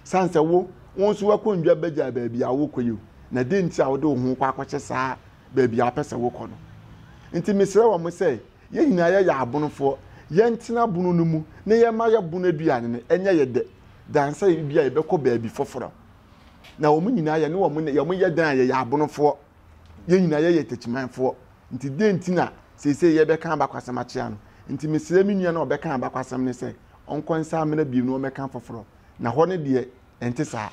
san sɛ wo wɔn nso wakɔ ndwa bɛgya baabi a wokɔ yi na de nti a wode wo ho kɔ akɔhyɛ saa baabi a wopɛ sɛ wokɔ no nti mesrɛ wɔn sɛ yɛn nyinaa yɛyɛ abonofoɔ yɛntena bono no mu na yɛma yɛ bono aduane no ɛnyɛ yɛ dɛ dan sɛ ebi a yɛbɛkɔ baabi foforɔ na wɔn nyinaa yɛ ne wɔn yɛ dan a yɛyɛ abonofoɔ yɛn nyinaa yɛyɛ takyimanfoɔ nti dɛn nti na seesei yɛbɛka abakwasɛm akyea no nti mesrɛ me nua no a ɔbɛka abakwasɛm no sɛ ɔnkɔ nsa amena bio na ɔmmɛka foforɔ na hɔ no deɛ ɛnte saa.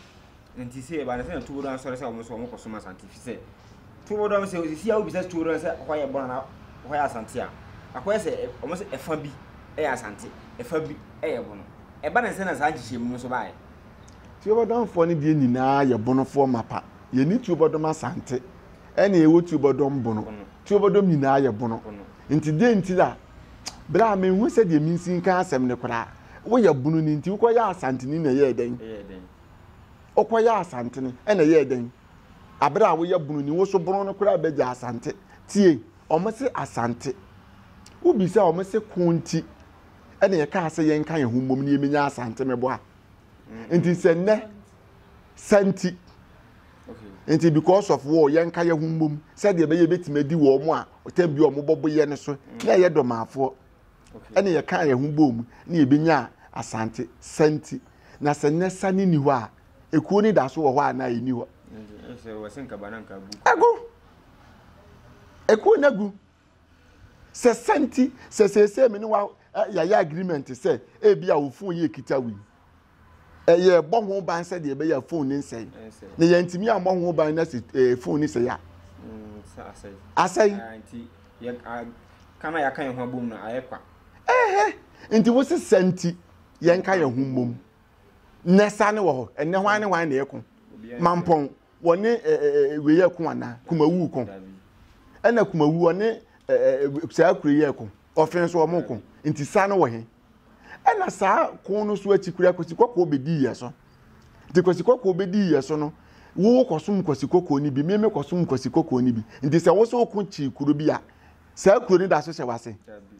Nti sɛ ɛba no sɛ na tuo dɔn asɔre sɛ wɔn nso wɔn kɔ som asante fi sɛ tuo dɔn sɛ osisi a wobisa tuo dɔn sɛ hɔ yɛ bɔn na hɔ yɛ asante a akɔyɛ sɛ wɔn sɛ ɛfa bi ɛyɛ asante ɛfa bi ɛyɛ bɔn ɛba no sɛ na saa nhyehyɛmu no nso baeɛ. Tuobɔdɔmfoɔ no deɛ nyinaa yɛ bonofoɔ mapa. Yɛnni tuobɔdɔm asante ɛne ɛwɔ tuobɔdɔm bono. Tuobɔdɔm nyinaa yɛ bono. Nti deɛ nti la berɛ a menhu sɛ deɛ mensi nka asɛm no koraa woyɛ bono no nti wokɔyɛ asantene na ɛyɛɛ dɛn? Wokɔyɛ asantene ɛna ɛyɛɛ dɛn? Aberɛ a woyɛ bono ni wo so bono no koraa bɛgya asante. Tie, wɔn se asante. Wobisa wɔn se ko nti ɛna yɛkaa sɛ yɛnka yɛn ho mmom na yɛmɛnya asante meboa. nti sɛ nnɛ sa nti nti because of war yɛn ka yɛ ho mbom sɛdeɛ ɛbɛyɛ ebɛtumi adi wɔ wɔn a ɔtɛm bi a wɔn bɔbɔ yɛ no so na ɛyɛ dɔmaafoɔ ɛna yɛ kan yɛ ho bɔ mu na yɛ bɛnya asante sa nti na sɛ nnɛ sa ne ni hɔ a ekuo ne da so wɔ hɔ a na ɛni hɔ ɛgu ekuo na gu. sɛ sɛ nti sɛ seesei me ne wa yɛayɛ agreement sɛ ebi a wo fon yɛ kita wei ɛyɛ bɔ ho ban sɛ deɛ ɛbɛyɛ fon ne nsɛe na yɛntumi ammɔ ho ban na sɛ ɛɛ fon ne sɛe a asɛe kana yɛaka yɛn ho abom no ayɛ kwa ɛhɛ nti wo se sɛ nti yɛnka yɛn ho mmom na ɛsa ne wɔ hɔ ɛnɛ hwan ne hwan na ɛko mampɔn wɔne wei yɛ ko anaa kumawu ko ɛna kumawu ɔne saa kuro yɛ ko ɔfin so wɔn ko nti saa no wɔ he ɛna saa ko no so akyi kura kwasi kɔkɔɔ bɛdi yɛ so nti kwasi kɔkɔɔ bɛdi yɛ so no wo kɔsom kwasi kɔkɔɔ no bi meme kɔsom kwasi kɔkɔɔ no bi nti sɛ wo so ko kyi kuro bi a saa kuro no da so hyɛ wase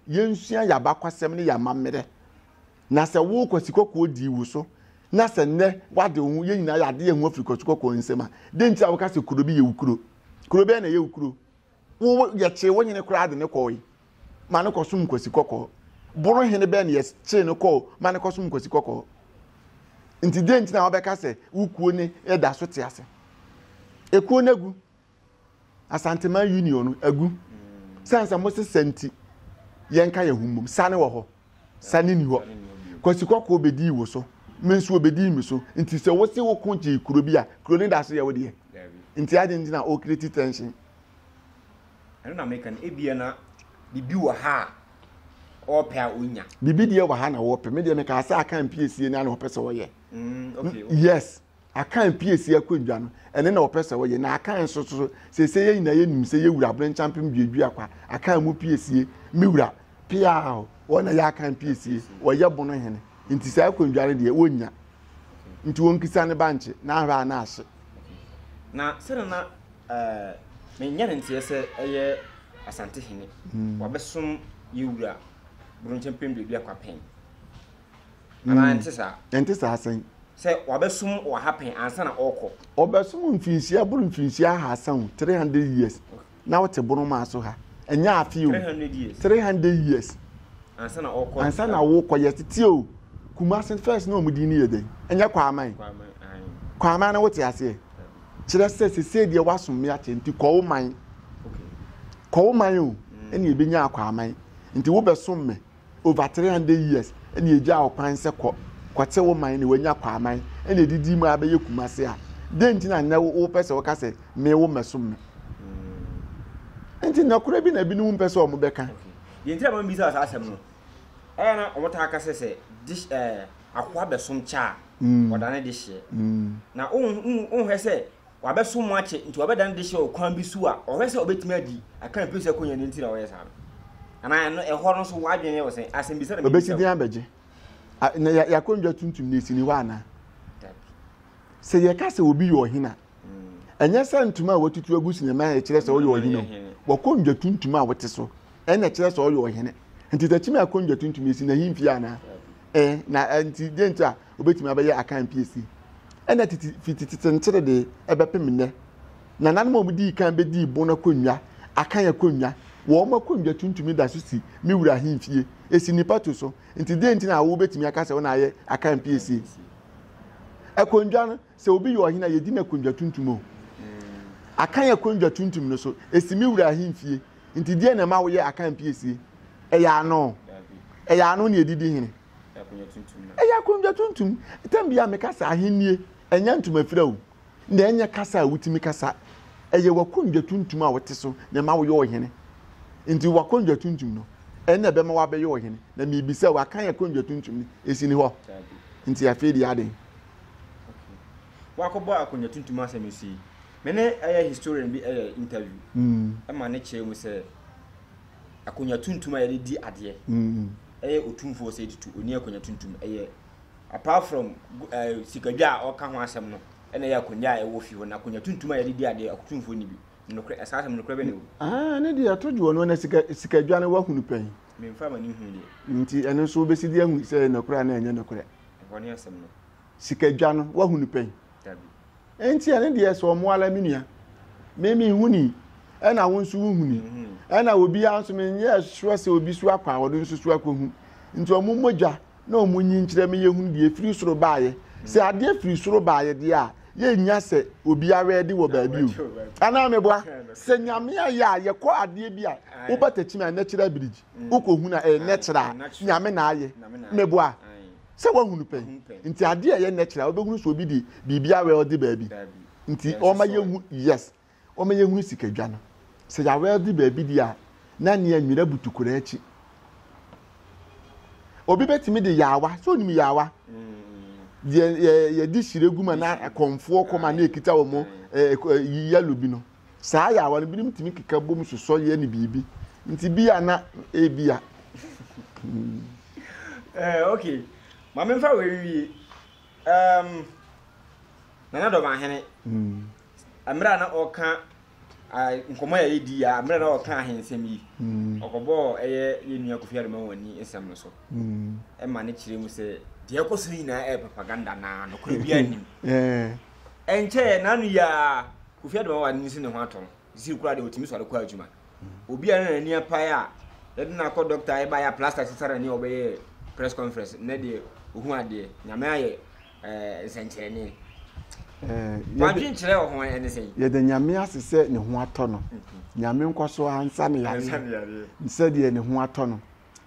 yɛnsua yɛabakwasɛm ne yɛamammerɛ Na sɛ wo kwasikɔkɔɔ dii wo so, na sɛ nnɛ woade wo ho, yɛn nyinaa yɛade yɛn ho afiri kwasikɔkɔɔ nsam a, dɛn nti a woka sɛ kuro bi yɛ wo kuro? Kuro bɛn na ɛyɛ wo kuro? Wo, yɛkyee wo hene koraa de no kɔɔe ma no kɔsom kwasikɔkɔɔ. Boro hene bɛn na yɛkyee no kɔɔ ma no kɔsom kwasikɔkɔɔ? Nti dɛn nti na wobɛka sɛ wo kuo ne ɛda so te ase? Ekuo no agu. Asanteman Union no agu sɛn sɛ mose sa nti yɛnka yɛn ho mmom sa ne wɔ hɔ sa ne ni hɔ kwasi kɔkɔɔ bɛdii wo so me nso ɔbɛdii me so nti sɛ wose wo ko gyee kuro bi a kuro ne da so yɛ wo deɛ nti adɛn nti na ɔkreti tension ɛno na meka no ebia na biribi wɔ ha a ɔpɛ a ɔnya biribi deɛ wɔ ha na wɔpɛ me deɛ meka sɛ aka mpiesie no a na ɔpɛ sɛ ɔyɛ mm, yes Akan pue si akonnwa no. Ɛno na wɔpɛ sɛ wɔyɛ. Na Akan nso so, seesei yɛn nyinaa yɛnim sɛ yɛn wura Aberenkyampem duadua kwa. Akan mo pue sie. Me wura, peaw! Wɔn na ɛyɛ Akan pue sie. Wɔyɛ bono hene. Nti saa akonnwa no deɛ, wɔnnya. Nti wɔnkisa ne bankye, na ahwɛ a na ahye. Na sɛdeɛ na menya no nteɛ sɛ ɛyɛ Asante hene, wɔabɛsom yɛn wura Aberenkyampem duadua kwa pɛn. anaa hmm. ɛnte saa ɛnte saa sɛn sɛ wabɛsom wɔ ha pɛn ansa na ɔrekɔ ɔbɛsom mfirinhyia boro mfirinhyia ahasa o three hundred years na ɔte bono maa so ha ɛnyɛ afe o three hundred years ansa na ɔrekɔ ansa na ɔrekɔ yɛ tete o kumase first na wɔn din no yɛ dɛ ɛnyɛ kwaman kwaman na wote aseɛ kyerɛ sɛ sese deɛ wasom me akyɛ nti kɔɔ man kɔɔ man o ɛna ebi nya akwaman nti wobɛsom me over three hundred years ɛna egya ɔkwan sɛ kɔ kɔte wo man na wanya kɔ aman ɛna edidi mu abɛyɛ kumase a den nti na nnɛ wopɛ sɛ wɔka sɛ me wo mɛsom me mm. nti nɔkorɛ bi na ebinom mpɛ sɛ wɔn bɛka. deɛ nti na wɔn bisa saa asɛm no ɛyɛ na wɔn taa ka sɛ sɛ dish ɛɛ akoa bɛsom kya a mm. ɔdane de hyeɛ mm. na ohun ohun hɛ sɛ wabɛsom mo akyɛ nti wabɛda ne dehyɛ wɔ kwan bi so a ɔhwɛ sɛ ɔbɛtumi adi aka mfiri sɛ kɔnya no nti na ɔyɛ saa no anaa ɛno ɛhɔ no so wadwene yɛ wɔ sɛn asɛmbisa na mebisa wɔ abɛgye na yɛakɔndwa tuntum na ɛsini hɔ anaa sɛ yɛka sɛ obi yɛ ɔhene a mm. ɛnyɛ sɛ ntoma a watutu agu sinima a ɛkyerɛ sɛ ɔyɛ ɔhene wɔkɔndwa tuntum a wote so ɛna kyerɛ sɛ ɔyɛ ɔhene nti sɛ kyimi akonnwa tuntum esi na hemfie anaa ɛɛ na nti deɛ nti a obetumi abɛyɛ akan piesie ɛna titi fi titi tenkyere de ɛbɛpem nnɛ na nanom a wɔdii kan bɛdii bon akonnwa akan akonnwa wɔn akonnwa tuntumi da so si me wura hemfie esi nipa to so nti deɛ nti na awo betumi aka sɛ ɔna ayɛ akan piesie akonnwa no Sɛ obi yɛ ɔhene a, yedi no akonnwa tuntum o. Akan akonnwa tuntum no so, esi me wura ahemfie. Enti deɛn na ɛma woyɛ Akan piesie? Ɛyɛ ano. Ɛyɛ ano na yɛde di hene. Ɛyɛ akonnwa tuntum. Tam biara meka sɛ ahennie, ɛnyɛ ntomafira o, na ɛnyɛ kasa a wotumi kasa. Ɛyɛ w'akonnwa tuntum a wote so na ɛma woyɛ ɔhene. Enti w'akonnwa tuntum no, ɛno na ɛbɛma woabɛyɛ ɔhene. Na mebisa wo, Akan akonnwa tuntum no, esi ne hɔ? Enti afei deɛ aden? Wakɔbɔ akonnwa tuntum asɛm nso yi me ne ɛyɛ historian bi ɛyɛ interview mm. ɛma ne kyerɛ mu sɛ akonnwa tuntum a yɛde di adeɛ mm. ɛyɛ otumfoɔ sɛ tutu oni akonnwa tuntum ɛyɛ apart from eh, sikadwa a ɔka ho asɛm no ɛna ɛyɛ akonnwa a ɛwɔ fie hɔ na akonnwa tuntum a yɛde di adeɛ akotumfoɔ ni bi nokorɛ ɛsaa asɛm nokorɛ bɛ ne o. Ah, ne deɛ ɛto dwoɔ no na sikadwa no wahunu pɛn. memfa ma ne hu deɛ. nti ɛno nso wobɛsi di ahu sɛ nokorɛ a na ɛnyɛ nokorɛ. Ɛhɔ ne asɛm no. Sika dwa no wahu no pɛn. Dabi. Ɛnti ɛne deɛ sɛ ɔmo ala me nua. Me me hu ni. Ɛna wo nso wo hu ni. Ɛna obi a nso me nyɛ sure sɛ obi so akɔ a ɔde nso so akɔ hu. Nti ɔmo mmɔ dwa na ɔmo nyi nkyerɛ me yɛ hunu deɛ firi soro baayɛ. Sɛ adeɛ firi soro baayɛ deɛ a yɛ nya sɛ obi awɛde wɔ baabi o. Anaa me boa. Sɛ nyame ayɛ a yɛkɔ adeɛ bi a wo batakyim a natural bridge. mm. wokɔhunu a ɛyɛ natural a nyame na ayɛ meboa sɛ woahunu pɛ nti adeɛ a ɛyɛ natural wobɛhunu sɛ obi de biribi awɛlde baabi nti ɔma yɛhu yes ɔma yɛhunu sikadwa no sɛ yɛawɛlde baabi di a na nea nwera butu kora akyi obi bɛtumi de yaawa sɛ onim yaawa mm. yɛde hyire gu ma na kɔmfoɔ kɔma na ɛkita wɔ mo yalo bi no saa yaawa no binom tumi keka bom sosɔ yɛ ne biribi nti bi a na ebi a. ɛɛ eh, ok ma memfa wei wie um, nana dɔmahene mm. mmerɛ a na ɔka nkɔmmɔ yɛ yɛdi a mmerɛ na ɔka ahensɛm yi hmm. ɔkɔbɔɔ ɛyɛ yɛnnua kofi adoma wɔn ani nsɛm no so hmm. ɛma ne kyerɛ mu sɛ deɛ ɛkɔ so nyinaa ɛyɛ propaganda na nokorɛ bi anim eh. Ɛnkyɛeɛ, n'ano yi ara, Kofi Ademawa anim si ne ho atɔ no. Sisei koraa deɛ, ɔtumi sɔre kɔ adwuma. Obi a na n'ani apae a, yɛde no akɔ dɔkta, ɛbaeɛ a plaster sesa n'ani a ɔbɛyɛɛ press conference. Nnɛ deɛ, ɔhu adeɛ. Nyame ayɛ eh, nsɛnkyerɛnne. Eh, Wadwen kyerɛ wɔ ho ɛne sɛn? Yɛda Nyame ase sɛ ne ho atɔ no. Mhm. Nyame nkɔ so ara nsa no yareɛ. Nsa no yareɛ. Sɛdeɛ ne ho atɔ no.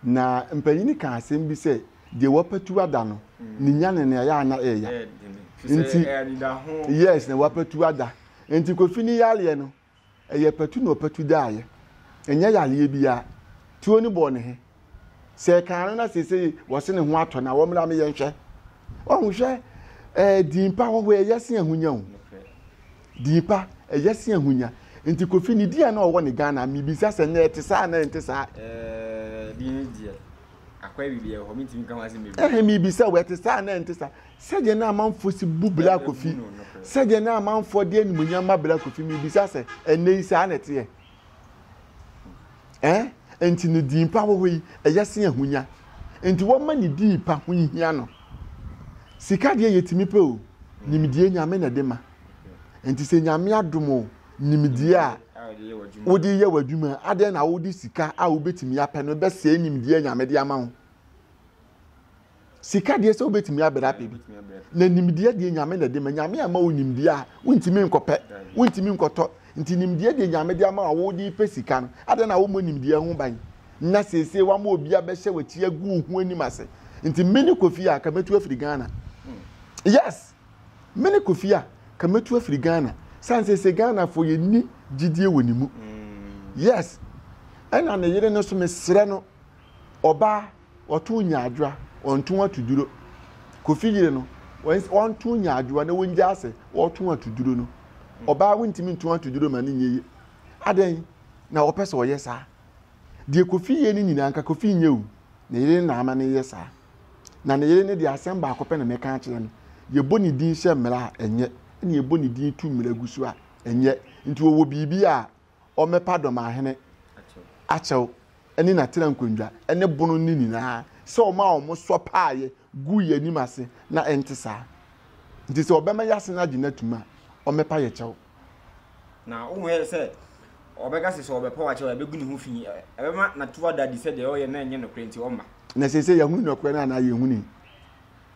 Na mpanyin no kaa asɛm bi sɛ, deɛ wapatu ada no, ne nya ne nea ɛyɛ a na ɛyɛ ya. Nti, yes, na wapatu ada. Nti Kofi ne yareɛ no, ɛyɛ patu na ɔpatu daeɛ. Ɛnyɛ yareɛ biara. Tuo no bɔɔ ne he. Sɛ ɛkaa no na seesei wɔse ne ho atɔ no a, wɔmmra me yɛnhwɛ. Ɔho hwɛ, ɛɛ din pa hɔhoɔ ɛyɛ se ahonya o. Din pa, ɛyɛ se ahonya. Nti Kofi ne din a na ɔwɔ ne Ghana, mebisa sɛ nnɛ ɛte saa anaa ɛnte saa? Ɛɛh, din no deɛ, akwae biribi wɔ hɔ, mentumi nka ho asɛm bebree. Ɛhe, mebisa wo, ɛte saa anaa ɛnte saa? Sɛdeɛ na amanfoɔ si bu Bla Kofi, sɛdeɛ na amanfoɔ de animuonyam ma Bla Kofi, mebisa sɛ, ɛnnɛ yi saa na ɛteɛ? Ɛɛh, nti ne din pa wɔ hɔ yi, ɛyɛ se ahonya. Nti wɔma ne din pa ho nhia no. Sika deɛ yɛtumi pɛ o, nimdeɛ Nyame na ɛde ma. nti sɛ nyame adom o nimdeɛ a wode yɛ w'adwuma adɛn na wode sika a wobɛtumi apɛ no bɛsɛe nimdeɛ nyame de ama wo sika deɛ sɛ wobɛtumi abɛrɛ apɛ bi na nimdeɛ deɛ nyame na de ma nyame ama wo nimdeɛ a wontumi nkɔpɛ wontumi nkɔtɔ nti nimdeɛ deɛ nyame de ama a wode pɛ sika no adɛn na wommɔ nimdeɛ ho ban na seesei wama obi abɛhyɛ w'akyi agu wo ho anim ase nti me ne kofi a kamɛtu afiri ghana hmm. yes Me ne Kofi a ka mɛtu afiri Ghana sane seesei Ghanafoɔ yɛnni gyidie wɔ ne mu. Yes, ɛna ne yere no so mesrɛ no ɔbaa ɔto nyaadwoa ɔnto atuduro. Kofi yere no ɔnto nyaadwoa na wɔngyaa sɛ ɔto atuduro no. Ɔbaa wontumi nto atuduro ma ne nyɛ yie. Adɛn na ɔpɛ sɛ ɔyɛ saa? Deɛ Kofi yɛ no nyinaa nka Kofi nyɛ o, ne yere na ama no yɛ saa. Na ne yere no deɛ, asɛm baako pɛ na mɛka akyerɛ no, yɛbɔ ne din hyɛ mmara a, ɛnyɛ, ɛna yɛbɔ ne din tu mmara gu so a, ɛnyɛ. Nti wɔwɔ biribi a ɔmmɛpa dɔmahene akyɛw ne n'atena nkonnwa ne bono no nyinaa sɛ ɔma wɔn sɔ paaeɛ gu yɛn anim ase na ɛnte saa. Nti sɛ ɔbɛma yɛn ase no agye no atum a, ɔmmɛpa yɛn kyɛw. Na wohwɛ sɛ ɔbɛka sɛ sɛ ɔbɛpa wakyɛ a ɛbɛgu ne ho fi ɛbɛma nato ada adi sɛ deɛ ɔyɛ na ɛnyɛ nokorɛ nti ɔmma na sɛ sɛ yɛhunu nokorɛ no anaa yɛhuni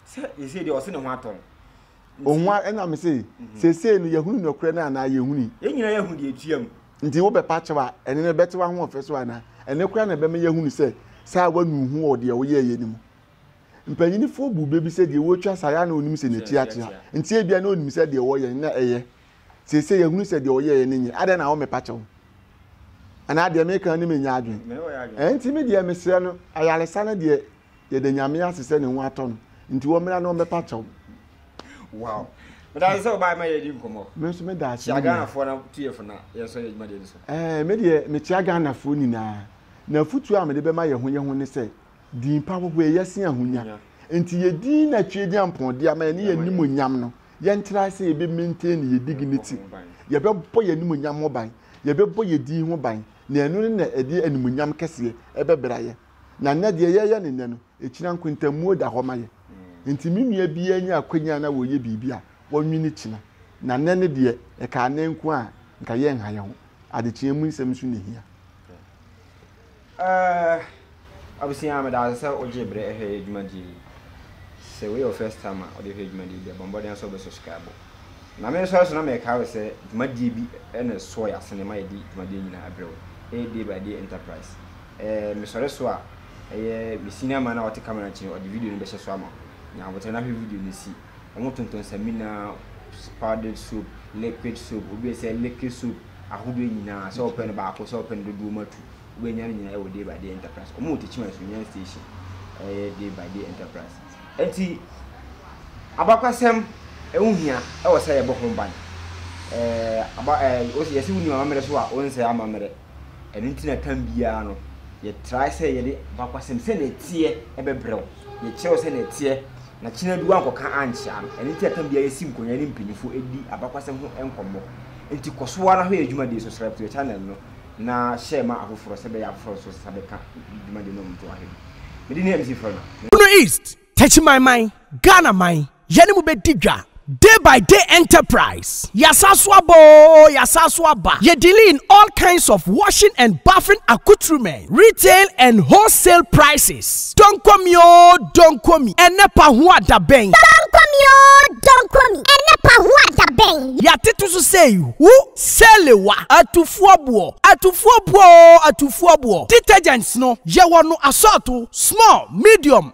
sɛ ɛsei deɛ ɔse ne ho atɔ no ɔhu ɛna me se mhm. sɛ sei no yɛhunu nokorɛ no anaa yɛhuni yɛn nyina yɛhu deɛ ɛtua mu nti wobɛpa kyɛw a ɛne no bɛte wahoɔfɛ so anaa ɛne koraa na ɛbɛma yɛhunu sɛ saa wanu ho wɔ deɛ woyɛɛyɛ no mu Mpanyinfoɔ bu bɛ bi sɛ deɛ wɔretwa saa yɛ a na ɔnim sɛ n'akyi akyea nti ebia na ɔnim sɛ deɛ wɔyɛ no na ɛyɛ. Seesei yɛahunu sɛ deɛ ɔyɛeɛ no nyɛ. Adɛn na wɔ mepa kyɛw? Anaa deɛ meka no menya adwen? Ɛnti me deɛ mesrɛ no ayaresa no deɛ yɛda Nyame ase sɛ ne ho atɔ no nti wɔ mmra na ɔmmɛpa kyɛw. Wow. Medase sɛ ɔbaa ma yɛdi nkɔmmɔ. Me nso meda ase. Kyia Ghanafoɔ na tu yɛ fo na yɛn nso yɛ dwumadie no so. Ɛɛ me deɛ mekyia Ghanafoɔ nyinaa. Na afutuo a mede bɛma yɛ ho yɛ ho ne sɛ Din pa wɔ hɔ, ɛyɛ sen ahonya. Nti yɛ din na atwie de ampɔnde ama yɛne yɛ animonyam no. Yɛntra sɛ yɛbɛ maintain ne yɛ dignity. Yɛbɛbɔ yɛ animonyam ho ban. Yɛbɛbɔ yɛ din ho ban. Na ɛno ne na ɛde animonyam kɛseɛ ɛbɛbra yɛ. Na nnɛ deɛ yɛyɛ no nnɛ no, ɛkyina nkontamuo da hɔ ma yɛ. Nti me nua biara nya akwanya na ɔyɛ biribi a, ɔnwene kyina. Na nnɛ no deɛ, ɛkaa nnɛ nko a, nka yɛnha yɛ ho. Adekyeɛ mu nsɛm nso na ɛhia. Eh, abusua, meda wo ase sɛ wogyee bere hwɛ yɛ dwumadie yi. Sɛ wei yɛ wo first time a wode hwɛ dwumadie bi a, bɔ mmɔden sɛ wobɛsubscribe. Na me nso ɛso na mekae wo sɛ dwumadie bi na ɛsoɔ yɛ asene ma yɛde dwumadie nyinaa abrɛ wo. Ɛyɛ Day by Day Enterprise. Eh, mesɔre so a, ɛyɛ me senior man a ɔte camera akyi no, ɔde video no bɛhyɛ so ama wo. Nya aboterɛ na hwɛ video no si. Ɔmo tontɔn samina, powdered soap, liquid soap, obi sɛ liquid soap ahodoɔ nyinaa sɛ ɔpɛ no baako sɛ ɔpɛ no dodoɔ mu atu wobɛnya no nyinaa ɛwɔ day by day enterprise ɔmo wɔ tekyima nsunya station ɛyɛ day by day enterprise ɛnti abakwasɛm ɛho hia ɛwɔ sɛ yɛbɔ ho ban ɛɛ aba ɛɛ yɛsi wo nim amammerɛ so a wɔn nsɛ amammerɛ Ɛno nti na tam biara no, yɛtrae sɛ yɛde bakwasɛm sɛnea ɛteɛ bɛbrɛ wo. Yɛkyerɛ wo sɛnea ɛteɛ, na kyen adu woankɔka ankyea no. Ɛno nti na tam biara yɛsi nkonnwa ne mpanyimfo di abakwasɛm ho nkɔmmɔ. Enti kɔ so ara hwɛ yɛn dwumadi so, srɛb to yɛn channel no, na hyɛ ma afoforɔ sɛ ɛbɛyɛ a afoforɔ nso nsa bɛka dwumadi no mpoahe no. Medin ne MC Frɔno. Bono East. Techimanman, Ghana man, yɛne mo bɛdi dwa. Day by day enterprise, yɛasan so aba oo, yɛasan so aba. Yɛ dealing in all kinds of washing and bathing accoutrements, retail and wholesale prices. Donko mi oo, donko mi, ɛnɛ pa ho a da bɛn. Donko mi oo, donko mi, ɛnɛ pa ho a da bɛn. Yɛatete so sei, hu Salewa, atufoɔ boɔ, atufoɔ boɔ oo, atufoɔ boɔ. Detergents no, yɛwɔ no asɔɔto, small, medium,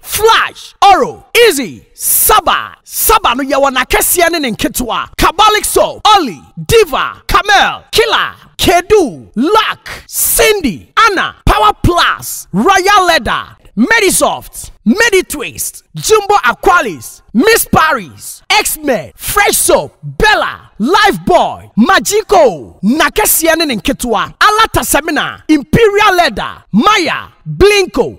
Flash, Oro, Izzy, Saba, Saba no yɛwɔ n'akɛseɛ ne ne nketewa, Kabalik Soap, Olly, Diva, Camel, Killer, Kedu, Luck, Cindy, Anna, Power Plus, Royal Leather, Medisoft, Meditwist, Jumbo Aqualis, Miss Paris, X-Men, Fresh Soap, Bella, Lifebuoy, Magico, n'akɛseɛ ne ne nketewa, Alata Semina, Imperial Leather, Maya, Blinko,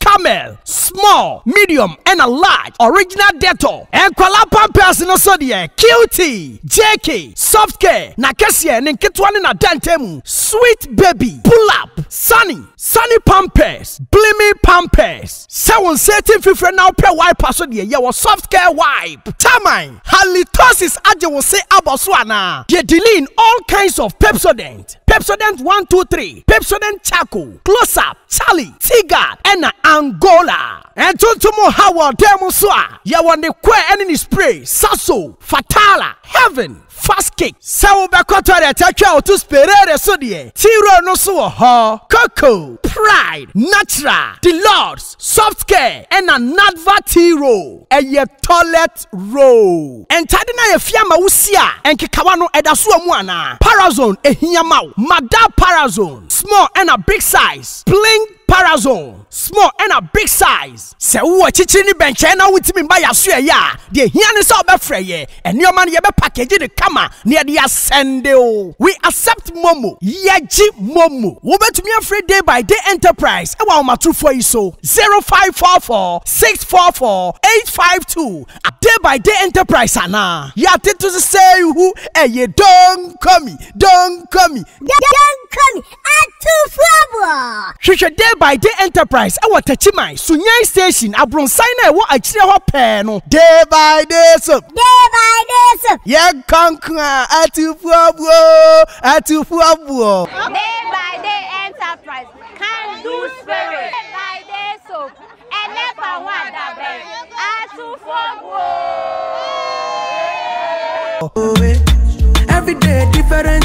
Camel, small, medium ɛna large, original Dettol, nkwadaa pampers no so deɛ cutie, JK, soft care, n'akɛseɛ, ne nketewa ne n'adantamu, sweet baby, pull up, sunny, sunny pampers, blimi pampers, sɛ wo nsa ati mfifire na wopɛ wiper so deɛ yɛwɔ soft care wipe, taman, halitosis agye wo se abɔ so anaa, yɛ Deline all kinds of Pepsodent. Pepsodent one two three, Pepsodent Charcoal, Close Up, Charlie, T-Guard, ɛna Angola. Ntontom ha wɔ dan mu nso a, yɛwɔ ne kɔɛ ne ne spray, Sasso, Fatala, Heaven, Fast Kick. Sɛ wobɛkɔ toilet atwa wo to Sperare so deɛ, T-Roll no nso wɔ hɔ. Coco, Pride, Natural, Deluxe, Softcare na Nadva tea roll, ɛyɛ toilet roll. Ntade no a yɛafia ama wo si a nkekawa no ɛda so wɔ mu anaa? Parazone ɛhia ma wo? Madar Parazone small ɛna big size Pling Parazone small ɛna big size. Sɛ wowɔ akyikyiri ne bɛnkyɛn na wontumi mma yɛasoɛ yɛ a, deɛ ɛhia ne sɛ wobɛfrɛ yɛn. Nneɛma no yɛbɛ package no kama na yɛde asɛnde o. We accept momo. Yɛgye momo. Wobɛtumi afrɛ Day by Day Enterprise ɛwɔ ahomatorofoɔ yi so, 0544 644 852 a Day by Day Enterprise anaa. Yɛatete so sɛ ihu ɛye Donkomi, Donkomi. Donkomi Atufoɔ! Hwehwɛ Day by Day Enterprise wɔ Takyiman, Sunyani Station, abronsan no a ɛwɔ akyire hɔ pɛɛ no. Day by Day Soap. Day by Day Soap. Yɛnkɔ nko a, Atufoɔboɔ oo, Atufoɔboɔ. Day by Day Enterprise, Can Do Spirit. Day by Day Soap, Ɛnɛ fa ho adabɛn, Atufoɔboɔ oo. Every day different.